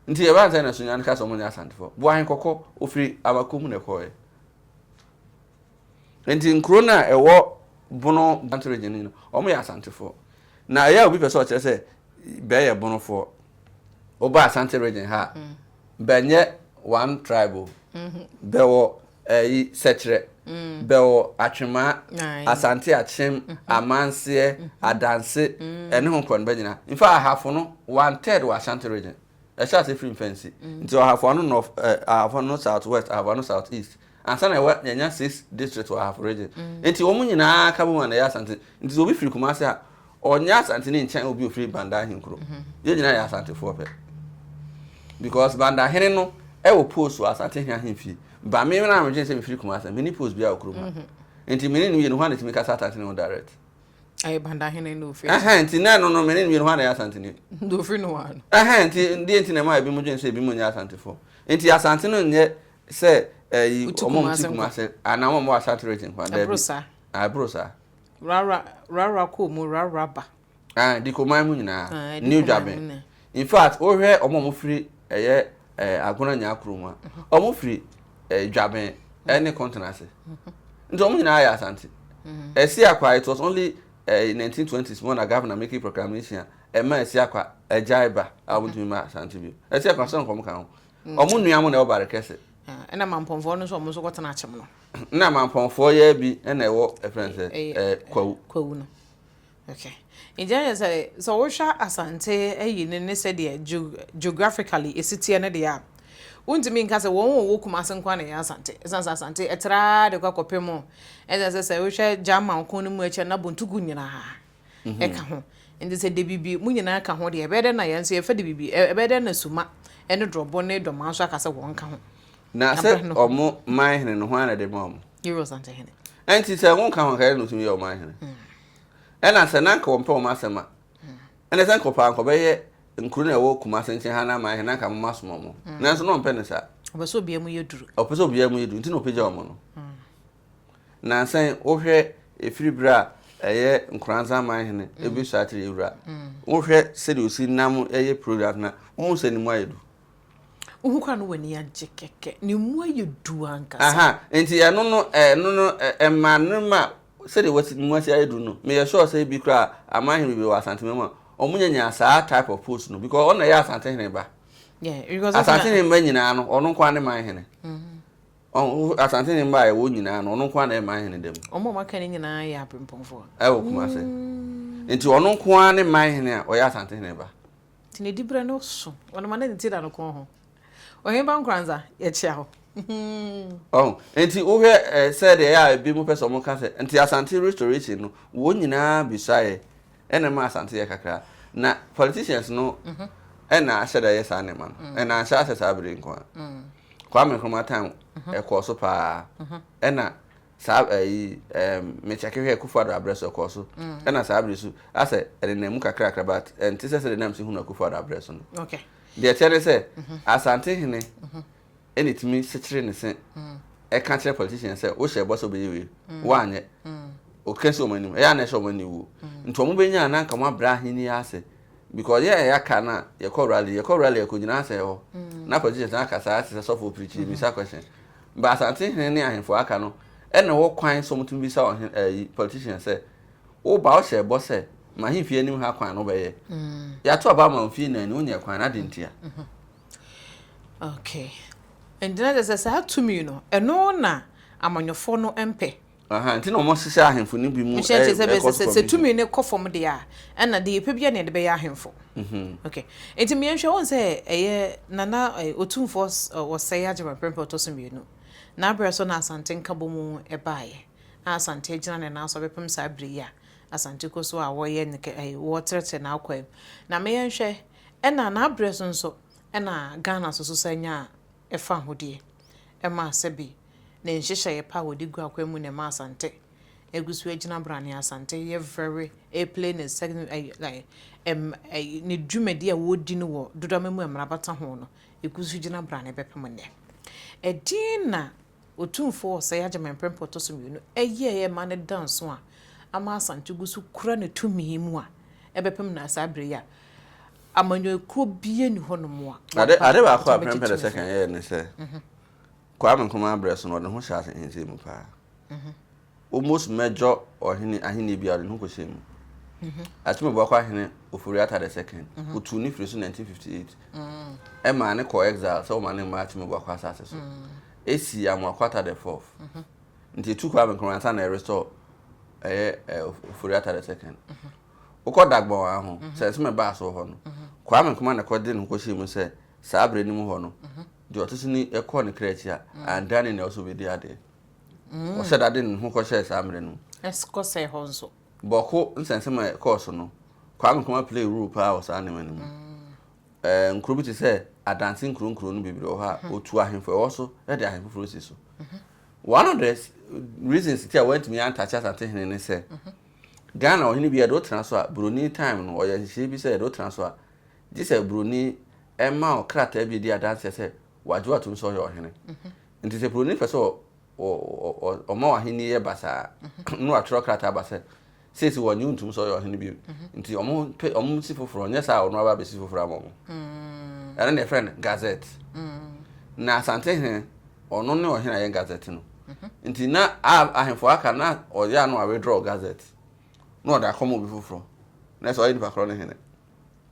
nti yɛ bantama na sunyane kasa wɔn nyɛ asantefo buahen kɔkɔ ofiri abako mu na ɛkɔɛ Enti nkuro no a ɛwɔ Bono Bantu Region no nyinaa, wɔyɛ Asantefoɔ. Na ɛyɛ a obi pɛ sɛ ɔkyerɛ sɛ bɛ yɛ Bonofoɔ, woba Asante Region ha a, bɛ nyɛ one tribe o. Bɛ wɔ ɛyi Sɛkyerɛ, bɛ wɔ Atwemaa, Asante Akyem, Amanseɛ, Adanse, ɛne ho nkurɔfoɔ no bɛ nyinaa. In fact, Ahafo no, one third wɔ Ashanti Region. ɛhyɛ ase firi mfɛnsi mm. nti ahafo ano north eh, ahafo ano south west ahafo ano south east ansa na ɛwɔ yɛnya six district wɔ ahafo region mm. nti wɔn nyinaa ka bom a na ɛyɛ asante nti sɛ obi firi kumase a ɔnyɛ asante ne nkyɛn obi ofiri banda ahenkuro mm-hmm. yɛn nyinaa yɛ asantefoɔ pɛ because banda hene no ɛwɔ post wɔ asante hene ahemfie ba me na medwene sɛ mefiri kumase mene post bi a ɔkurom ha mm-hmm. nti mene no yɛ no ho a na tumi kasa asante ne ho direct Ɛyɛ Bandahene na ofiri. Ɛhɛn nti na ɛno no mene mmienu hɔ na ɛyɛ Asanteni. Na ofiri no hɔ ano. Ɛhɛn nti deɛ nti na ɛma ebi mo dwen sɛ ebi mo nyɛ Asantefo. Nti Asante no nyɛ sɛ ɛyi ɔmo ti Kumase anaa ɔmo wɔ Asate region kwa dɛbi. Ɛboro saa. Ah ɛboro saa. Rara rara kɔ mu rara ba. Ah Dikoman mu nyinaa. Ah Dikoman mu nyinaa. New Dwaben. In fact, wo hwɛ ɔmo a ɔmo firi ɛyɛ ɛɛ Agona Nyaa kuro mu a, ɔmo firi ɛɛ Dwaben ɛne Kɔntena ase. Nti ɔmo nyinaa yɛ Asante. Asiakwa, it was only ɛɛ in 1920s mu na Governor making proclamation a ɛma Asiakwa agyae ba a ɔmo ntumi ma Asante bio. Asiakwa sɛ nkɔm ka ho. Ɔmo nua mo na ɛwɔ Barekɛse. Ɛna Mampɔnfoɔ no nso ɔmo nso kɔ tena Akyem no. Na Mampɔnfoɔ yɛ bi ɛna ɛwɔ ɛfrɛ no sɛ ɛɛ Kwawu. Kwawu no. Ok, nti ɛneɛ sɛ sɛ wohwɛ Asante ayi no ne sɛdeɛ geographically ɛsi teɛ no deɛ a, wontumi nka sɛ wɔn wɔwɔ Kumase nko ara na ɛyɛ Asante, ɛsiane sɛ Asante ɛtra ara de kɔ akɔpem, ɛsiane sɛ sɛ wohwɛ German ko no mu akyire no na Bontugu nyinaa ɛka ho, nti sɛ Dabibi mo nyinaa ka ho deɛ ɛbɛyɛ dɛn na yɛn nso yɛfa Dabibi, ɛbɛyɛ dɛn na Suma ne Dorɔbo ne Dɔmaa nso aka sɛ wɔn ka ho. Na sɛ wɔn man hene no hwan na ɛde maa wɔn? Yɛwura Asante hene. Ɛnti sɛ wɔn ka ho anka yɛn na wɔtumi yɛ wɔn man hene. Ɛna sɛ na anka wɔmpɛ wɔn asɛm a, ɛna sɛ anka wɔpɛ ankɔbɛyɛ nkuro na ɛwɔ Kumase nkyɛn ha na ama ɛhɛ na anka moma som wɔn. Nanso na wɔmpɛ ne saa. Ɔpɛ sɛ obiara mu yɛ duru. Ɔpɛ sɛ obiara mu yɛ duru, nti na ɔpagya wɔn no. Nansa yi, wohwɛ ɛfiri berɛ a ɛyɛ Nkoranza aman hene ɛbɛsua atere awura, wohwɛ sɛdeɛ ɔsi nam yɛ programs no a, wohu sɛ ne mu ayɛ duru. Wohu kora no w'ani agye kɛkɛ ne mu ayɛ du ankasa. Nti ɛno no ɛno no ɛma no ma sɛdeɛ wasi ne mu asi ayɛ du no meyɛ sure sɛ ebi koraa aman hene bebree wɔ Asantehene mu a wɔn nya nya saa type of post no because ɔno na ɛyɛ Asantehene ba. Asantehene ba nyinaa no ɔno nko ara ne man hene. Asantehene ba a ɛwɔ nyinaa no ɔno nko ara na ɛyɛ man hene da mu. Wɔn a wɔaka no nyinaa yɛ abempɔnfoɔ. Ɛwɔ Kumase. Nti ɔno nko ara ne man hene a ɔyɛ Asantehene ba. Nti ne diberɛ no so. Ɔno ma na ne ti da no kɔn ho. Ɔhene ba Nkoranza, yɛkyea wo. Ɔho, nti wo hwɛ eh, sɛ deɛ ɛyɛ a bi mo pɛ sɛ ɔmo ka sɛ, nti Asante restoration no, wɔn nyinaa bisaeɛ, ɛna ɛmaa Asante yɛ kakra. Na politicians no ɛna ahyɛ da yɛ saa nneɛma no, ɛna anhyɛ ahyɛ saa bere yi nko ara. Kwame Nkrumah time ɛkɔɔ so paa, ɛna saa ɛyi ɛɛm me kyɛke hwɛ akufo ado abrɛ so ɛkɔɔ so ɛna saa abiri so asɛ ɛde na emu kakrakra bat ɛnte sɛ sɛ de nam si hunu akufo ado abrɛ so no deɛ kyɛ ne sɛ asante hene ɛna etumi sekyere ne se ɛka kyerɛ politician sɛ wohyɛ ɛbɔ sɛ ɔbɛyɛ wie wanyɛ ɔka si wɔn anim ɛyɛ ana ɛhyɛ wɔn ani wuo nti wɔn bɛnya na nka wɔn abrɛ ahene ase because yɛ ɛyɛ aka na yɛkɔ rally yɛkɔ rally yɛkɔ gyina asɛ hɔ na politician aka saa asɛ sɔfo pirikyi bisa question Bere a Asante hene ne ahemfo a aka no na wɔ kwan sɛ wɔtumi bisa ɔhene, ayi, politician sɛ, Wo ba, wohyɛɛ bɔ sɛ, M'ahemfie anim ha kwan no wobɛyɛ. Yɛato aba ama wo mfie nnan ni, wonyɛɛ kwan no, adɛn ntia? Okay. Enti na kyerɛ sɛ saa tumi no, ɛno na amanyɔfoɔ no mpɛ. Ahaa, nti na wɔhyehyɛ ahemfo no bi mu Nhyɛ nkyɛ sɛ bɛ ɛkɔ sɛ so sɛ sɛ commission. tumi no kɔ fam deɛ a, ɛna deɛ yɛpɛ biara na yɛde bɛyɛ ahemfo. Okay. Nti meɛ nhwɛ wohu sɛ ɛyɛ Nana eh, Otumfoɔ s- eh, Osei Agyemang Prempeh ɔtɔ so mmienu. N'aberɛ so na Asante Nkabɔmu ɛbaeɛ a Asante agyina ne nan so abɛpem saa berɛ yi a Asante kɔ so a wɔyɛ ne kɛ ɛyi wɔtrɛtrɛ n'akwaa mu. Na meɛ nhwɛ ɛna n'aberɛ so nso ɛna Ghana so so san nyaa fa ho deɛ, ɛma sɛbe ne nhyehyɛeɛ pa a wɔde gu akwan mu na ɛma Asante agu so agyina brane. Asante yɛ very ɛplay ne sɛ ɛɛ ɛm ɛɛ ne dwumadi a wɔdi no wɔ Dodoma mu a mmara bata ho no ɛgu so gyina brane bɛpem nnɛ. Ɛdeɛn na. Otumfoɔ Osei Agyeman prɛmpɛ ɔtɔ so mmienu yɛeɛ ma no da nso a ama Asante gu so kura ne tumi mu a ɛbɛpem na saa berɛ yi a amanyɔkuo biara nni hɔ nom a wɔba Ade baako a prɛmpɛ the second yɛeɛ ne sɛ Kwame Nkrumah berɛ so no ɔde ne ho hyɛɛ asehenseɛ mu paa. Omos mɛdjɔ ɔhene ahennie biara de ne ho kɔhyɛɛ mu. Akyem Obuako ahene Ofori-Atta the Second, ɔtuu ne firi so 1958, ɛmaa ne kɔɔ exile sɛ wɔma ne mmaa Akyem Obuako asase so. Ɛsii Amoako-Atta the Fourth, nti ɛtuu Kwame Nkrumah ansa na ɛrestore ɛyɛ Ofori-Atta the Second. Wokɔ Dagbon a ho, sɛ nso mebaa so wɔ hɔ no, Kwame Nkrumah na ɛkɔ de ne ho kɔhyɛɛ mu sɛ saa berɛ no mu hɔ no, deɛ ɔte so ni kɔɔ ne kra akyi a, anndane nea ɔsɛ ɔbɛdi adeɛ. Ɔhyɛ da de ne ho kɔhyɛɛ saa mmere no mu. Kɔsɛe hɔ nso. Bɔko nsɛnsɛm a ɛkɔɔ so no, Kwame Nkrumah play role paa wɔ saa nneɛma no mu. Ɛɛ nkuro bi te sɛ Adansi nkuro nkuro no bebree wɔ hɔ a, ɔtu ahemfo ɛwɔ so de ahemfo foforɔ si so. One of the reasons ti a wɔantumi antakye Asante hene ne sɛ, Ghana ɔhene bi yɛde wo tena so a, buroni time no ɔyɛ nhyehyɛeɛ bi sɛ yɛde wo tena so a, gye sɛ buroni ma wo krataa bi a ɛdi adanseɛ sɛ wagye atom sɛ ɔyɛ ɔhene. Nti sɛ buroni pɛ sɛ ɔma w'ahenni yɛ basaa na watwerɛ krataa aba sɛ seesi wɔnye ntom sɛ ɔyɛ ɔhene bio nti ɔmo si foforɔ nyɛ saa ɔno aba abɛsi foforɔ ama ɔmo mm. ɛno na yɛfrɛ no gazette mm. na asante hene ɔno ne ɔhene ayɛ gazette no mhm. nti na ahemfo aka na ɔyɛ ano a withdraw gazette na ɔde akɔma obi foforɔ na ɛsɛ ɔyɛ nipa korɔ ne hene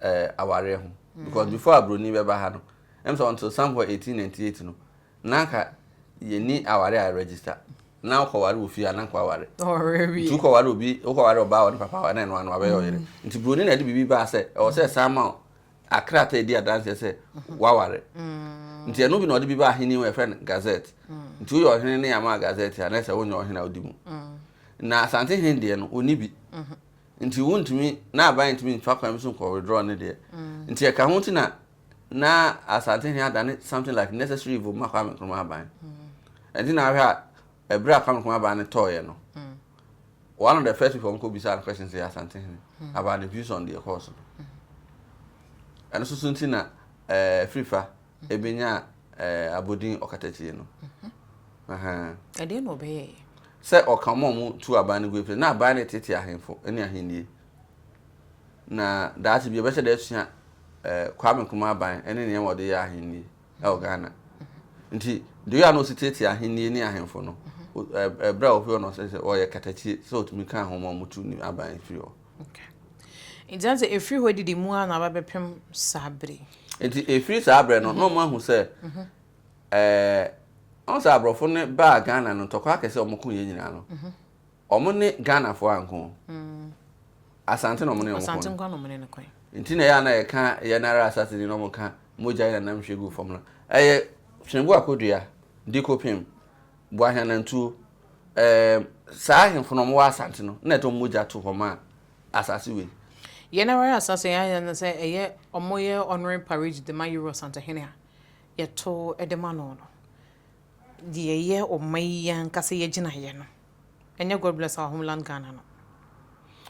eh, awareɛ ho because mm. before aburoni bɛba ha no ɛm sɛ until somewhere 1898 no na anka yɛni aware a register na wokɔware wɔ fie a na nka waware nti wokɔware obi wokɔware ɔbaa wɔ ne papa wɔ na ɛno ano wabɛyɛ ɔyere mm. nti buroni na ɛde biribi baa sɛ ɛwɔ sɛ ɛsan ma wo akrata ɛdi adanseɛ sɛ mm-hmm. waware mm. nti ɛno bi na ɔde bi baa ahene wɔ ɛfrɛ no gazette mm. nti woyɛ ɔhene ne ama gazette a na ɛsɛ wonyɛ ɔhene a wodi mu na asante hen deɛ no ɔni bi mm-hmm. Nti wontumi na aban ntumi nfa kwan bi so nkɔ withdraw ne deɛ. Nti ɛka ho ti na na Asantehene adane something like necessary evil ma Kwame Nkrumah aban. Ɛnti na ahwɛ a ɛberɛ a Kwame Nkrumah aban no tɔɔeɛ no, one of the first people ɔmkɔ bisaa no questions yɛ Asantehene about the views on deɛ ɛkɔɔ so no. Ɛno nso so nti na ɛɛ Afirifa ɛbɛnyaa eh, abodin ɔkatakyie no ɛdeɛ na ɔbɛyɛɛ sɛ ɔka ɔma ɔmo tu aban no gu na aban no tete ahemfo ne ahennie na daakye bi ɛbɛhyɛ da asua eh, Kwame Nkrumah aban ne nneɛma ɔde yɛ ahennie ɛwɔ Ghana nti deɛ ɔyɛ a na ɔsi tietie ahennie ne ahemfo no ɛberɛ a ɔhwɛ no sɛ ɔyɛ katakyie sɛ ɔtumi ka ahoma ɔmo tu ne aban firi hɔ Enti na sɛ ɛfiri hɔ adidi mu ara na aba bɛpem saa berɛ yi. Enti ɛfiri saa berɛ no, na wɔahu sɛ ɔhu sɛ aborɔfo no baa Ghana no, ntɔkwa akɛse a wɔko yɛn nyinaa no, wɔn ne Ghanafoɔ anko. Asante na wɔn ne wɔn ko. Asante nkwa na wɔn ne no ko. Nti na ɛyɛ a na yɛka yɛn ara asase ni na wɔka mogya yi na nam hwie gu fam no. Ɛyɛ Hwengo Akodua, Dikopem. Boahianantuo, ɛɛm, saa ahemfo no, wɔwɔ Asante no, na ɛtɔ wɔn mogya to hɔ ma asase wei. Yɛn ara asase yɛn ayɛ no sɛ ɛyɛ wɔyɛ honorary parade de ma Yero Asantehene a yɛto de ma no no. Deɛ ɛyɛ ɔman yi ankasa yɛgyinaeɛ no, Ɛnyɛ God Bless Our Homeland Ghana no.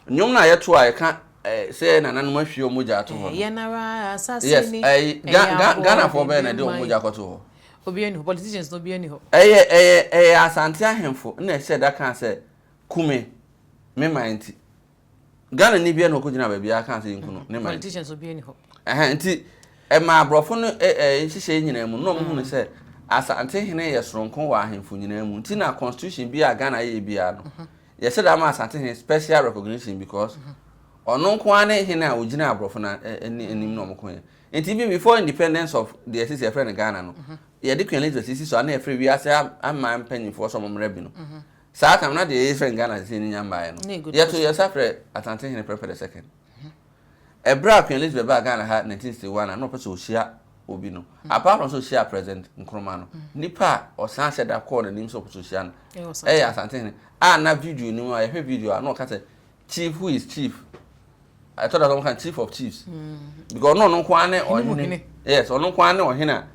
Nnwom no a yɛto a ɛka sɛ yɛn nananom ahwie wɔn mogya ato hɔ no. Yɛn ara asase ni. Yes, ɛyɛ Ghanafoɔ bɛyɛ na ɛde wɔn mogya kɔto hɔ. Obiara ni hɔ, politicians no obiara ni hɔ. Ɛyɛ ɛyɛ ɛyɛ Asante ahemfo na ɛhyɛ da kaa sɛ, Kume, me man nti. Ghana ni bia na ɔkɔ gyina baabi a kan sɛ yɛnku no ne man. Politicians obi ni hɔ. Ɛhɛn nti ɛma aborɔfo no nhyehyɛ nyinaa mu na ɔmo hunu sɛ asante hene yɛ soronko wɔ ahemfo nyinaa mu nti na constitution bi a Ghana yɛ biara no yɛhyɛ da ma asante hene special recognition because ɔno nko ara ne hene a ɔgyina aborɔfo no anim na ɔmo ko yɛ nti bi before independence of the ɛsisi ɛfrɛ no Ghana no yɛde Queen Elizabeth sisi so a na yɛfrɛ wiase aman mpanyinfoɔ sɛ ɔmo mmerɛ bi no Saa tam na deɛ yɛyɛ fɛn Ghana Tete no nya mmaeɛ no, yɛto yɛn nsa frɛ Asante Hene Prempeh the Second. Ɛberɛ a Queen Elizabeth baa Ghana ha 1961 a na ɔpɛ sɛ ɔhyia obi no, apart from sɛ ɔhyiaa President Nkrumah no, nipa a ɔsan hyɛ da kɔɔ n'anim sɛ ɔpɛ sɛ ɔhyia no yɛ Asante Hene a na video no mu a yɛhwɛ video a na ɔka sɛ chief who is chief ɛtɔ da sɛ wɔn ka chief of chiefs because ɔno ɔno nko ara ne ɔhene yes ɔno nko ara ne ɔhene a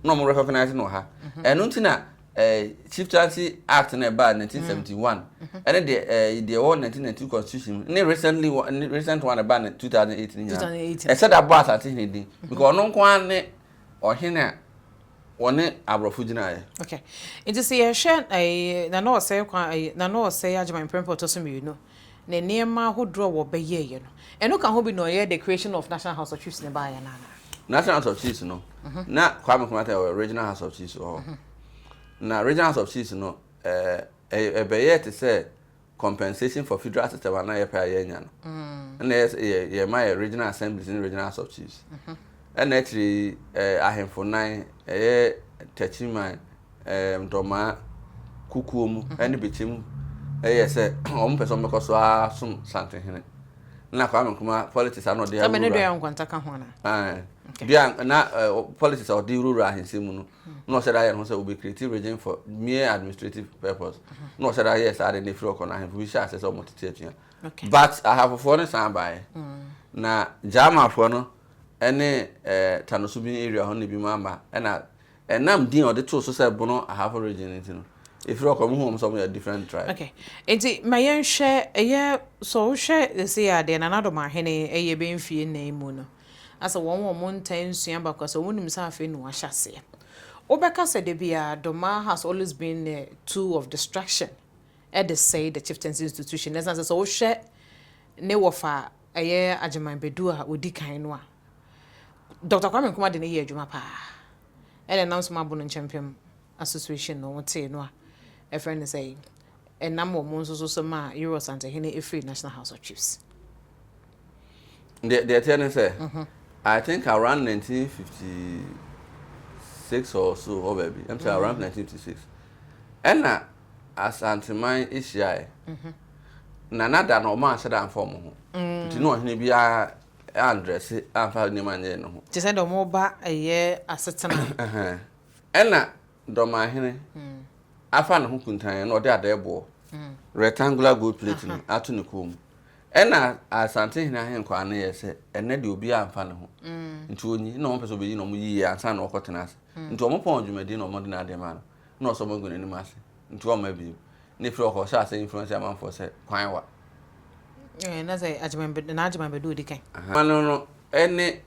na wɔn recognize no wɔ ha ɛno nti na ɛɛ chieftaincy act na ɛbaa 1971 ɛne deɛ ɛɛ deɛ ɛwɔ 1992 constitution ne recently ne recent one ɛbaa 2008 ne nyinaa ɛsɛ da bɔ asase hene din because ɔno nko ara ne Ɔhene a wɔne aborɔfo gyinaeɛ. Ok nti sɛ yɛhwɛ Nana Ɔsɛe kwan Nana Ɔsɛe Agyeman mprempren ɔtɔ so mmienu ne nneɛma ahodoɔ a wɔbɛyɛeɛ no ɛno ka ho bi na ɔyɛ the creation of National House of Chiefs no baeɛ no anaa? National House of Chiefs no na Kwame Nkrumah tɛ wɔ Regional House of Chiefs wɔ hɔ na Regional House of Chiefs no ɛbɛyɛɛ te sɛ compensation for federal system a na yɛpɛ a yɛanya no ɛna ɛyɛ sɛ yɛ yɛma yɛ regional assemblies ne regional house of chiefs ɛna akyire yi ɛɛ ahemfo nan ɛyɛ Takyiman ɛɛ Ntɔmaa Kukuo mu ɛne Bikyim ɛyɛ sɛ wɔn pɛ sɛ wɔn bɛkɔ so ara som Santenhene na Kwame Nkrumah politics a na ɔde awura ɛmɛ ne Doyan Nkwanta ka ho ana ɛɛ Doyan na politics a ɔde wura ahensi mu no na ɔhyɛ da yɛ ne ho sɛ obi create region for mere administrative purpose na ɔhyɛ da yɛ saa de na efiri ɔkɔ no ahemfo bi hyɛ ase sɛ wɔn tete atua but ahafofoɔ no san baeɛ mm. na gyamafoɔ no ɛne ɛɛ tanoso bi area hɔ na ebi mu aba ɛna ɛnam din a ɔde too so sɛ bono ahafo region nti no efiri ɔkɔ mu hɔn sɛ wɔn yɛ different tribe. okay nti ma yɛn hwɛ ɛyɛ so wohwɛ ɛsɛ yɛ adeɛ na n'adɔm ahene ɛyɛ bɛn fie nnan mu no. Na sɛ wɔn wɔn ntaa nsua baako sɛ wonim sɛ afei na wɔahyɛ aseɛ. Wobɛka sɛ da biara Domah has always been a tool of destruction de sɛe the chieftaincy institution ɛsiane sɛ sɛ wohwɛ ne wɔfa a ɛyɛ Agyeman Badu a ɔdi kan no a Doctor Kwame Nkrumah de no yɛɛ adwuma paa ɛna ɛnam so ma Bono nkyɛmpem Association no, wotee no a, ɛfrɛ no sɛ ɛnam wɔn nso so so maa Yoro Asantehene firii National House of Chiefs. Deɛ deɛ ɛteɛ ne sɛ, I think around 1956 or so hɔ baabi, ɛm sɛ around 1956, ɛna Asanteman hyiaeɛ, na na da no wɔn anhyɛ da amfa wɔn ho, nti na ɔhene biara andrɛse amfa nneɛma nyɛɛ ne ho. Te sɛ deɛ wɔreba ɛyɛ asetena Ɛnna dɔmahene afa ne ho kuntann na ɔde adɛɛboɔ, rectangular gold plate, no ato ne kɔn mu. Ɛnna Asantehene ahenkwaa no yɛɛ sɛ, Ɛnnɛ deɛ obiara mfa ne ho. Nti wɔnyi, na wɔmpɛ sɛ wɔbɛyi no, wɔyi yɛ ansa na wɔkɔtena ase. Nti wɔpɔn dwumadie na wɔde no adeɛ maa no, na ɔsɔ magu n'anim ase. Nti wɔmma bio. Ne firi ɔkɔ ɔhyɛ ase influence amanfoɔ sɛ kwan wa. Eh, na sɛ agyemambedu, na agyemambedu odi kan. Aha, no no ne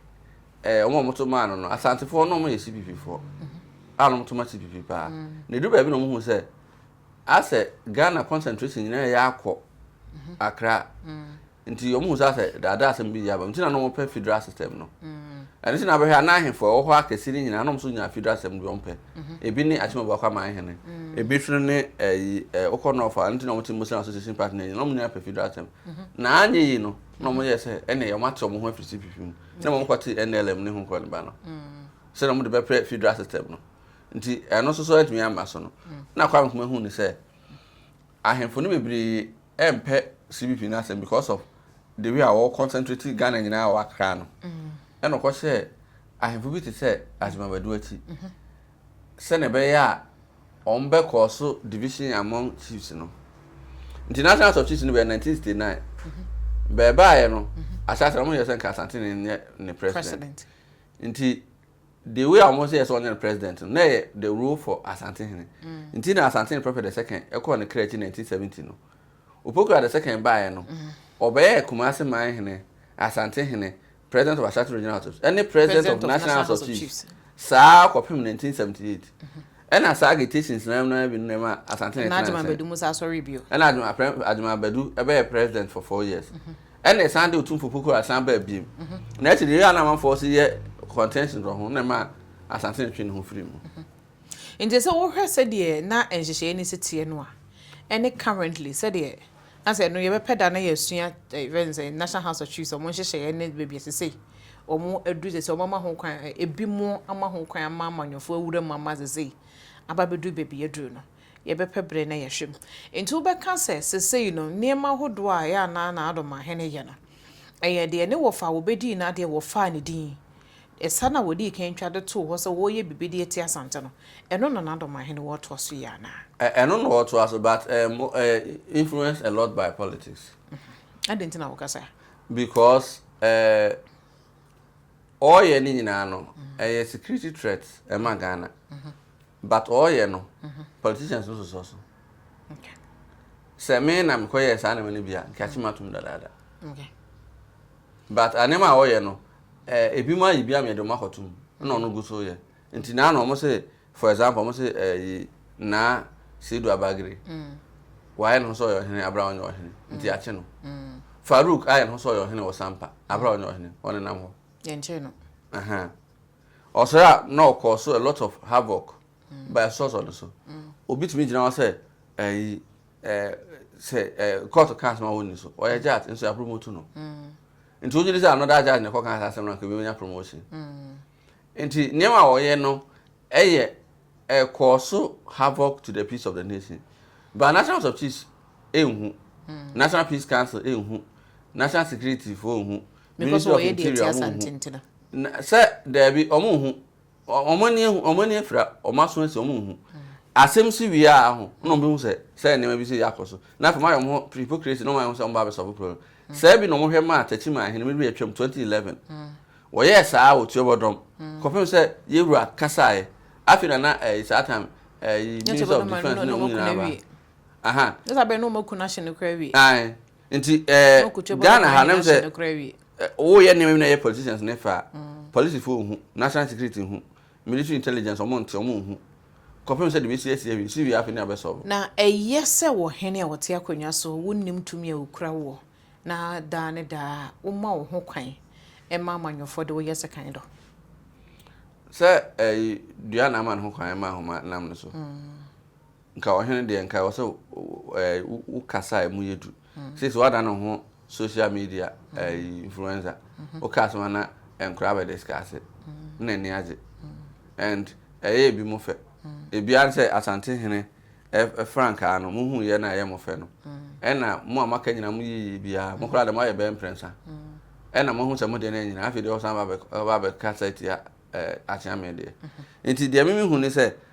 eh, wɔn a wɔto maa no no asantefoɔ no wɔyɛ sipipifoɔ a na wɔto ma sipipi paa mm. na ɛduru baabi na wɔhu sɛ asɛ ghana concentration nyinaa yɛ akɔ mm-hmm. akra mm. nti wɔhu sɛ asɛ daadaa asɛm bi yɛ aba nti na na wɔpɛ federal system no mm. ɛno nti na abɛhwɛ ana ahemfo ɛwɔ hɔ akɛse no nyinaa na wɔn nso nya federal system bi wɔmpɛ mm-hmm. ebi ne akyima baako ama ahene ebi nso ne ɛyi ɛɛ okɔ nɔɔfa ɛno nti na wɔn ti muslim association party na wɔn nyinaa pɛ federal system mm-hmm. na anyɛ yi no na wɔn yɛ sɛ ɛnna wɔn ate wɔn ho afiri cpp mu na mmom kɔte NLM ne ho kɔ ne ba no sɛdeɛ wɔn de bɛpɛ federal system no nti ɛno nso so atumi ama so no na Kwame Nkrumah hu ne sɛ ahemfo no bebree ɛmpɛ CBP no asɛm because of the way a wɔwɔ concentrate Ghana nyinaa wɔ Accra no ɛna ɔkɔhyɛ ahemfo bi te sɛ Azimabadu akyi sɛnea ɛbɛyɛ a wɔbɛkɔ so division among chiefs no nti national house of chiefs no bɛyɛ 1969 bɛɛbaeɛ no ahyɛahyɛ no wɔyɛ sɛ nka asante ne nyɛ ne president nti the way a wɔn sɛ yɛ sɛ wɔnyɛ no president no na yɛ the rule for asante hene mm. nti na asante ne prɔfɛt the second ɛkɔɔ ne kra akyi 1970 no Opoku Adesɛ kan baeɛ no, ɔbɛyɛɛ Kumasi Man Hene, Asante Hene, President of Ashanti Regional House of Chiefs, ɛne President of National House of Chiefs saa kɔpem 1978. Ɛna saa agitations no ara mu no ara bi no na ɛma Asante Hene tenaa nkyɛn. Ɛna Adjuma Badu Musa sɔree bio. Ɛna Adjuma Badu bɛyɛɛ President for four years. Ɛna ɛsan de Otumfo Opoku Ware san baa biom. Na akyiri no, yei a na amanfoɔ nso yɛ contentions wɔ ho na ɛmaa Asante Hene twee ne ho firii mu. Enti sɛ wohwɛ sɛdeɛ na nhyehyɛeɛ no si teɛ no a, ɛne currently sɛdeɛ na sɛ ɛno yɛbɛpɛ da na yɛasua ɛfɛ ne sɛ National House of Chiefs wɔn nhyehyɛeɛ ne baabi ɛsɛ sɛ wɔn aduru sɛ sɛ wɔn ama ho kwan ebi mo ama ho kwan ama amanyɔfoɔ awura mu ama sɛ sɛ aba bɛduru baabi yɛduru no yɛbɛpɛ berɛ na yɛhwɛ mu. Enti wobɛka sɛ sesei no nneɛma ahodoɔ a ɛyɛ a na Nana Addo Mahene yɛ no ɛyɛ deɛ ne wɔfa a wɔbɛdii no adeɛ wɔfaa ne din Ɛsa no a wɔdii kan twa de too hɔ sɛ wɔreyɛ biribi de atia Asante no, ɛno na Nandom ahene wɔ toa so yie anaa? Ɛno na wɔtoa so but um, influenced a lot by politics. Adɛn nti na woka saa? Because uh, ɔreyɛ ne nyinaa no ɛyɛ security threat ɛma Ghana but ɔreyɛ no politicians no sosɔ so sɛ me na mekɔyɛɛ saa nneɛma no bi a nka kye matom dadaada but nneɛma a ɔreyɛ no Eh ebinom ayɛ bi ameɛ de ɔmo akɔto mu ɛna ɔno gu so yɛ nti naa na ɔmo se for example ɔmo se eh yi naa Seidu Abagere wayɛ ne ho sɛ ɔyɛ ɔhene abere a ɔnyɛ ɔhene nti yɛakye no Farouk ayɛ ne ho sɛ ɔyɛ ɔhene wɔ Sampa abere a ɔnyɛ ɔhene ɔnenam hɔ yɛnkyee no ɛhɛn ɔsɔre a na ɔkɔɔ so a lot of havoc ba ɛsosɔ ne so obi tumi gyina hɔ sɛ eh yi eh sɛ eh court kaa sɛ ma wɔnni so ɔyɛ jat nso yɛapromote no Nti wogye di sɛ another judge na ɛkɔka saa asɛm no anka obi bɛnya promotion. Nti nneɛma a wɔyɛ no ɛyɛ ɛkɔɔ so havoc to the peace of the nation. But National House of Chiefs ɛnhu, National Peace Council ɛnhu, National Security foɔ nhu, Ministry of Interior ɔmo nhu. Sɛ daabi ɔmo nhu. Wɔn ani ahu, wɔn ani afira, wɔn aso asi, wɔn nhu. Asɛm si wie a ho, na wɔn bɛhu sɛ sɛ nneɛma bi si yɛ akɔ so. Na afei wɔn ayɛ wɔn ho hypocrisy na wɔn ayɛ wɔn sɛ wɔn ba abɛsɔ ɔbɛkoro no. Sɛ bi na wɔn hwɛ maa Takyi maa ahene mmiri atwam 2011. Wɔyɛɛ saa wɔ Tuo Bɔdɔm. Kɔpem sɛ Yewura kasaeɛ. Afei na na ɛyi saa time ɛyi minister of defence ne wɔn nyinaa ba. Aha. Ɛsɛ abɛn na wɔn aku no ahye no koraa awie. Ae. Nti eh, Ghana ha nam sɛ woyɛ nneɛma bi na ɛyɛ politicians ne fa a, mm. polisifo nhu, national security nhu, military intelligence ɔmo nte ɔmo nhu. Kɔpem sɛ de bɛsi asi awie, si wie afei ne abɛsɔbo. Na ɛyɛ sɛ wɔ hene a wɔte akonnwa so wonnim tumi a okura woɔ, na daa ne daa woma wo ho kwan ɛma amanyɔfoɔ de woyɛ sekan dɔ. Sɛ ɛyi eh, dua na ama ne ho kwan ɛma ahoma nam no so. Mm. nka ɔhene deɛ nka ɛwɔ sɛ ɛɛ wokasa a emu yɛ du sisi wada ne ho social media ɛɛ influencer woka asɛm a na nkora bɛ discuss na ani agye and ɛyɛ ebi mo fɛ ebi ara sɛ asante hene ɛɛ frankaa no mo hu yɛ na ɛyɛ mo fɛ no ɛna mo a maka nyina mo yɛ yie biara mo koraa deɛ mo ayɛ bɛyɛ mprɛnsa ɛna mo ho sɛ mo deɛ no anyina afei deɛ ɔsan ba bɛ ba bɛkasa tia ɛɛ akyea me deɛ nti deɛ mimi hu ne sɛ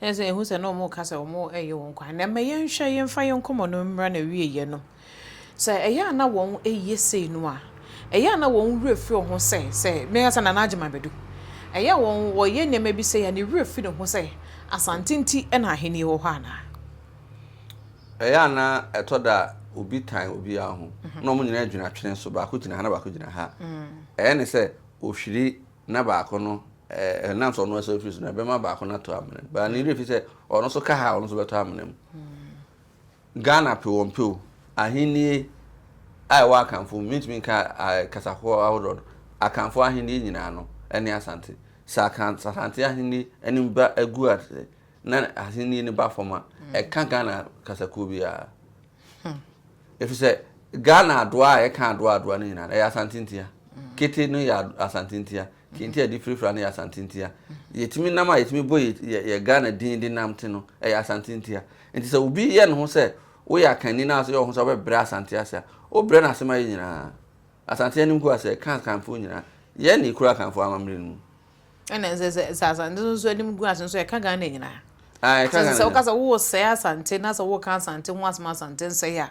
Ɛne sɛ yɛhu sɛ na wɔreka sɛ wɔyɛ wɔn kwan. Na ɛmɛ yɛnhwɛ yɛmfa yɛn nkɔmmɔ no mmra na wieɛ no. Sɛ ɛyɛ a na wɔn ɛyɛ sei no a, ɛyɛ a na wɔn werɛ fi wɔn ho sɛ sɛ meka sɛ Nana Agyeman bɛdu. Ɛyɛ a wɔn wɔyɛ nneɛma bi sei a ne werɛ fi ne ho sɛ Asante nti na ahennie wɔ hɔ anaa. Ɛyɛ a na ɛtɔ da a obi tan obiara ho na wɔn nyinaa dwene atwene so, baako gyina ha na baako gyina ha. Ɛyɛ ne sɛ ɔhwiri na baako no Ɛnam sɛ ɔno asan afiri so no, ɛbɛma baako no atɔ amena mu. Baa ne werɛ fi sɛ ɔno nso ka ha a ɔno nso bɛtɔ amena mu. Ghana pe wɔn pe o, ahennie a ɛwɔ Akanfo mu, mentumi nka kasa ahodoɔ no, Akanfo ahennie nyinaa no ne Asante. Sɛ Asante ahennie anim ba agu ase na ahennie no ba fam a, ɛka Ghana kasakuo biara. Ɛfiri sɛ Ghana adoa a ɛka adoa adoa no nyinaa no ɛyɛ Asante ntia. Kete no yɛ Asante ntia. Kente a yɛde firafira no yɛ Asante ntia. Yɛtumi nam a yɛtumi bɔ yɛ Ghana din de nam te no, ɛyɛ Asante ntia. Nti sɛ obi yɛ ne ho sɛ woyɛ akanni na asɛ yɛ wo ho sɛ wobɛbrɛ Asante ase a, wobrɛ no ase ma yɛ nyinaa. Asante anim ko asɛ ka Akanfoɔ nyinaa. Yɛn na yɛkura Akanfoɔ amammerɛ no mu. Ɛna sɛ sɛ sɛ Asante nso anim gu ase nso ɛka Ghana nyinaa. Ah, ɛka Ghana. Sɛ woka sɛ wosɛe Asante na sɛ woka Asante ho asɛm Asante nsɛe a.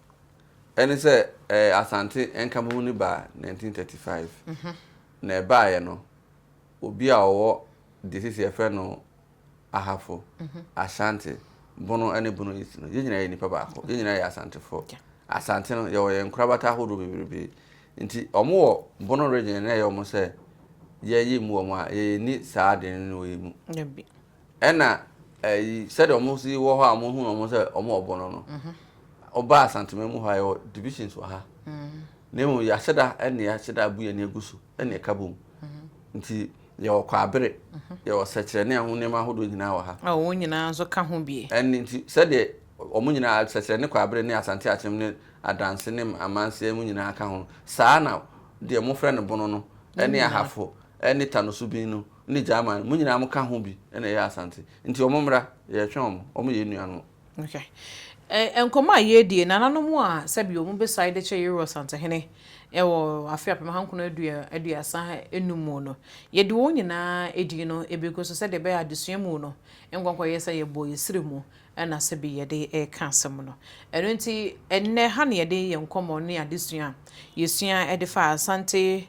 Ɛne sɛ, ɛɛ Asante Nkamoho no baa 1935. Na ɛbaeɛ no, obi a ɔwɔ deɛ seesei yɛfrɛ no Ahafo, Ashanti, Bono ne Bono East no, yɛn nyinaa yɛ nnipa baako. Yɛn nyinaa yɛ Asantefoɔ. Asante no, yɛwɔ yɛn nkorabata ahodoɔ bebrebe. Nti wɔwɔ Bono Region na ɛyɛ wɔn sɛ yɛyɛ mu wɔn a, yɛnni saa adwene no wɔ yɛn mu. Dabi. Ɛna ɛyi sɛdeɛ wɔn si wɔ hɔ a wɔn hu wɔn sɛ wɔn ɔbɔ no no ɔba asantuma mu hɔ a yɛwɔ divisions wɔ ha na emu yɛahyɛda ɛna yɛahyɛda abu yɛn egu so ɛna ɛka bom nti yɛwɔ kwabere yɛwɔ sɛkyerɛ ne ɛho nneɛma ahodoɔ nyinaa wɔ ha. a wɔn nyinaa nso ka ho bie. ɛne nti sɛdeɛ wɔn nyinaa sɛkyerɛ ne kwabere ne asante akyem ne adanse ne amanseɛ mu nyinaa ka ho saa na deɛ mofrɛ no bono no ɛne ahafo ɛne tanoso bin no ne German, mo nyinaa mo ka ho bi na ɛyɛ Asante nti ɔmo mmra yɛretwɛn ɔmo, ɔmo yɛ enuanom. Okay. Nkɔmmɔ a yɛredie, nananom a sɛbi ɔmo besae de kyɛ Yero Asantehene wɔ afe apem ahankron aduasa enum mu no, yɛde wɔn nyinaa edin no ebegu so sɛdeɛ ɛbɛyɛ a adesua mu no nkɔnkɔyɛ sɛ yɛbɔ yɛn siri mu na sɛbi yɛde reka asɛm no. Ɛno nti ɛnnɛ ha na yɛde yɛn nkɔmmɔ ne adesua a yɛsua de faa Asante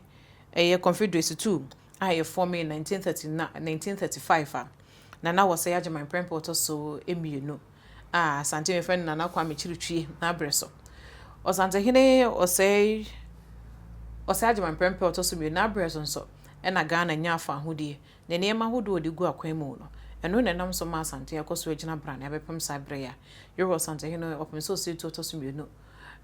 Ɛyɛ Confederacy tu a ɛfɔɔmee 1939 a na na wɔsɛe Agyeman prɛmpɛ a ɔtɔ so mmienu a Asante wɔfrɛ no Nana Kwame Kyirikyie n'aberɛ so. Ɔsantehene ɔsɛe ɔsɛe Agyeman prɛmpɛ a ɔtɔ so mmienu n'aberɛ so nso na Ghana nyaa faahodie ne nneɛma ahodoɔ a ɔde gu akwan mu no. Ɛno na ɛnam so maa Asante akɔ so agyina brane abɛpem saa berɛ yi a yɛwɔ Ɔsantehene ɔpem sɛ ɔsɛetuo ɔtɔ so mmienu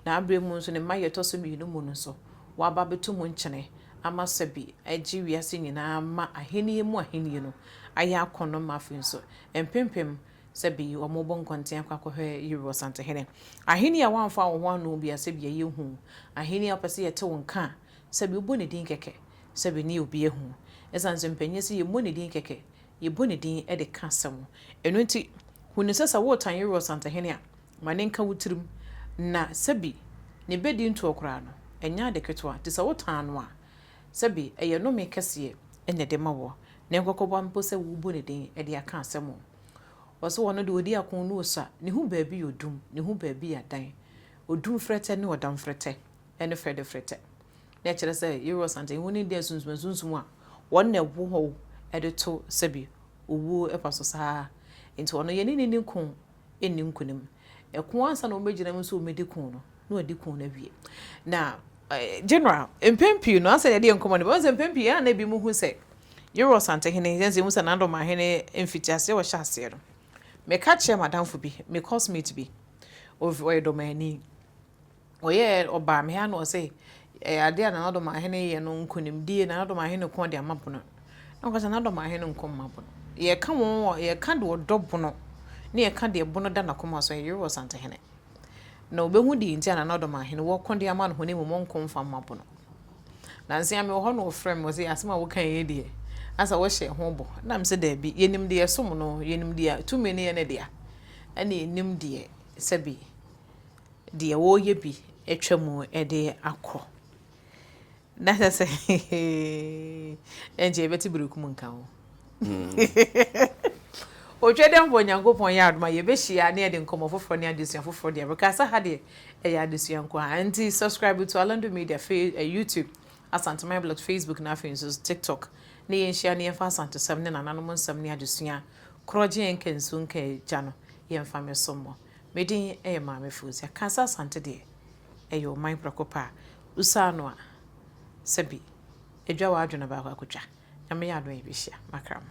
Na aberɛ mu nso ne mma a ɛtɔ so mmienu mu no nso, wɔaba abɛto mu nkyene ama sɛbe agye wiase nyinaa ma ahennie mu ahennie no ayɛ akɔnnɔ ma afei nso mpempem sɛbe wɔrebɔ nkɔnten akɔ akɔhwɛ Yeru Ɔsantehene. Ahennie a wɔamfa wɔn ho anno bi a sɛbe ɛyɛ hu, ahennie a wɔpɛ sɛ wɔte wo nka a sɛbe wobɔ ne din kɛkɛ sɛbe ne obi ahu. Ɛsiane sɛ mpanin se yɛmmɔ ne din kɛkɛ, yɛbɔ ne din de ka asɛm. Ɛno nti, hu no sɛ sɛ woretan Yeru Ɔsantehene a, Ma ne nka wo tirim, na sɛbi ne bɛdi ntoɔ koraa no, ɛnyɛ ade ketewa, nti sɛ wotaa no a, sɛbi ɛyɛ nnome kɛseɛ na ɛde ma woɔ, ne nkɔkɔboa mpo sɛ wobɔ ne din de aka asɛm o. Wɔse ɔno deɛ ɔdi ako ne ɔsua, ne ho baabi yɛ odum, ne ho baabi yɛ dan, odum frɛtɛ ne ɔdam frɛtɛ ne frɛdɛ frɛtɛ. Na ɛkyerɛ sɛ Yehowa Ɔsantani ho nimdeɛ nsunsumansunsum a wɔn na ɛwɔ hɔ de to sɛbi owuo pa so saa ara, nti ɔno yɛne no nni ko nni nkonim. Ɛko ansa na wɔbɛgyina mu sɛ wɔbɛdi ko no, na wɔadi ko no awie. Na general, mpɛn pii no, ansa na yɛde yɛn nkɔmmɔ no bɛyɛ, sɛ mpɛn pii a na ebinom hu sɛ Yoro Asantehene, yɛn sɛ yɛhu sɛ Nandomanhene mfitiaseɛ a ɔhyɛ aseɛ no, meka kyerɛɛ m'adamfo bi, me course mate bi, ɔyɛ Dɔmanni, ɔyɛɛ ɔbaa me ha na ɔse eh, adeɛ a Nana Domaahene yɛ no nkonimdie Nana Domaahene ko de ama bono na ɔka sɛ Nana Domaahene nko mma bono yɛka wɔn wɔ yɛka deɛ ɔdɔ bono ne yɛka deɛ bono da n'akoma so ɛyere wɔ Santehene na ɔbɛhu deɛ nti a Nana Domaahene wɔko de ama no ho ne mmom ɔnko mfa mma bono nansia me wɔ hɔ na ɔfrɛ me ɔse asɛm a woka yɛ deɛ asa wɔhyɛ ho bɔ nam sɛ daabi yɛnim deɛ ɛsom no yɛnim deɛ tumi no yɛ ne dea ɛne yɛnim deɛ sɛbi deɛ wɔreyɛ bi atwa mu de akɔ. Na kyɛ sɛ ɛnkyɛ yɛbɛte berekum nka ho. Otwa dɛ mpo Onyankopɔn yɛ adom a yɛbɛhyia ne yɛde nkɔmmɔ foforɔ ne adesua foforɔ deɛ bɛka sɛ ha deɛ ɛyɛ adesua nko a. Nti subscribe to Alando Media fe eh, YouTube, Asante My Blog, Facebook na afei nso TikTok. Ne yɛnhyia ne yɛmfa asantesɛm ne nananom nsɛm ne adesua korɔgye yɛn nka nsu nka agya no yɛmfa mɛso mmɔ. Me din yɛ Maame Fozia. Kansa Asante deɛ, ɛyɛ ɔman prɛko pɛ a wosaa no a, sɛbi, adwa w'adwene baako akotwa. Nyame yɛ adom a yɛbɛhyia. Makra mo.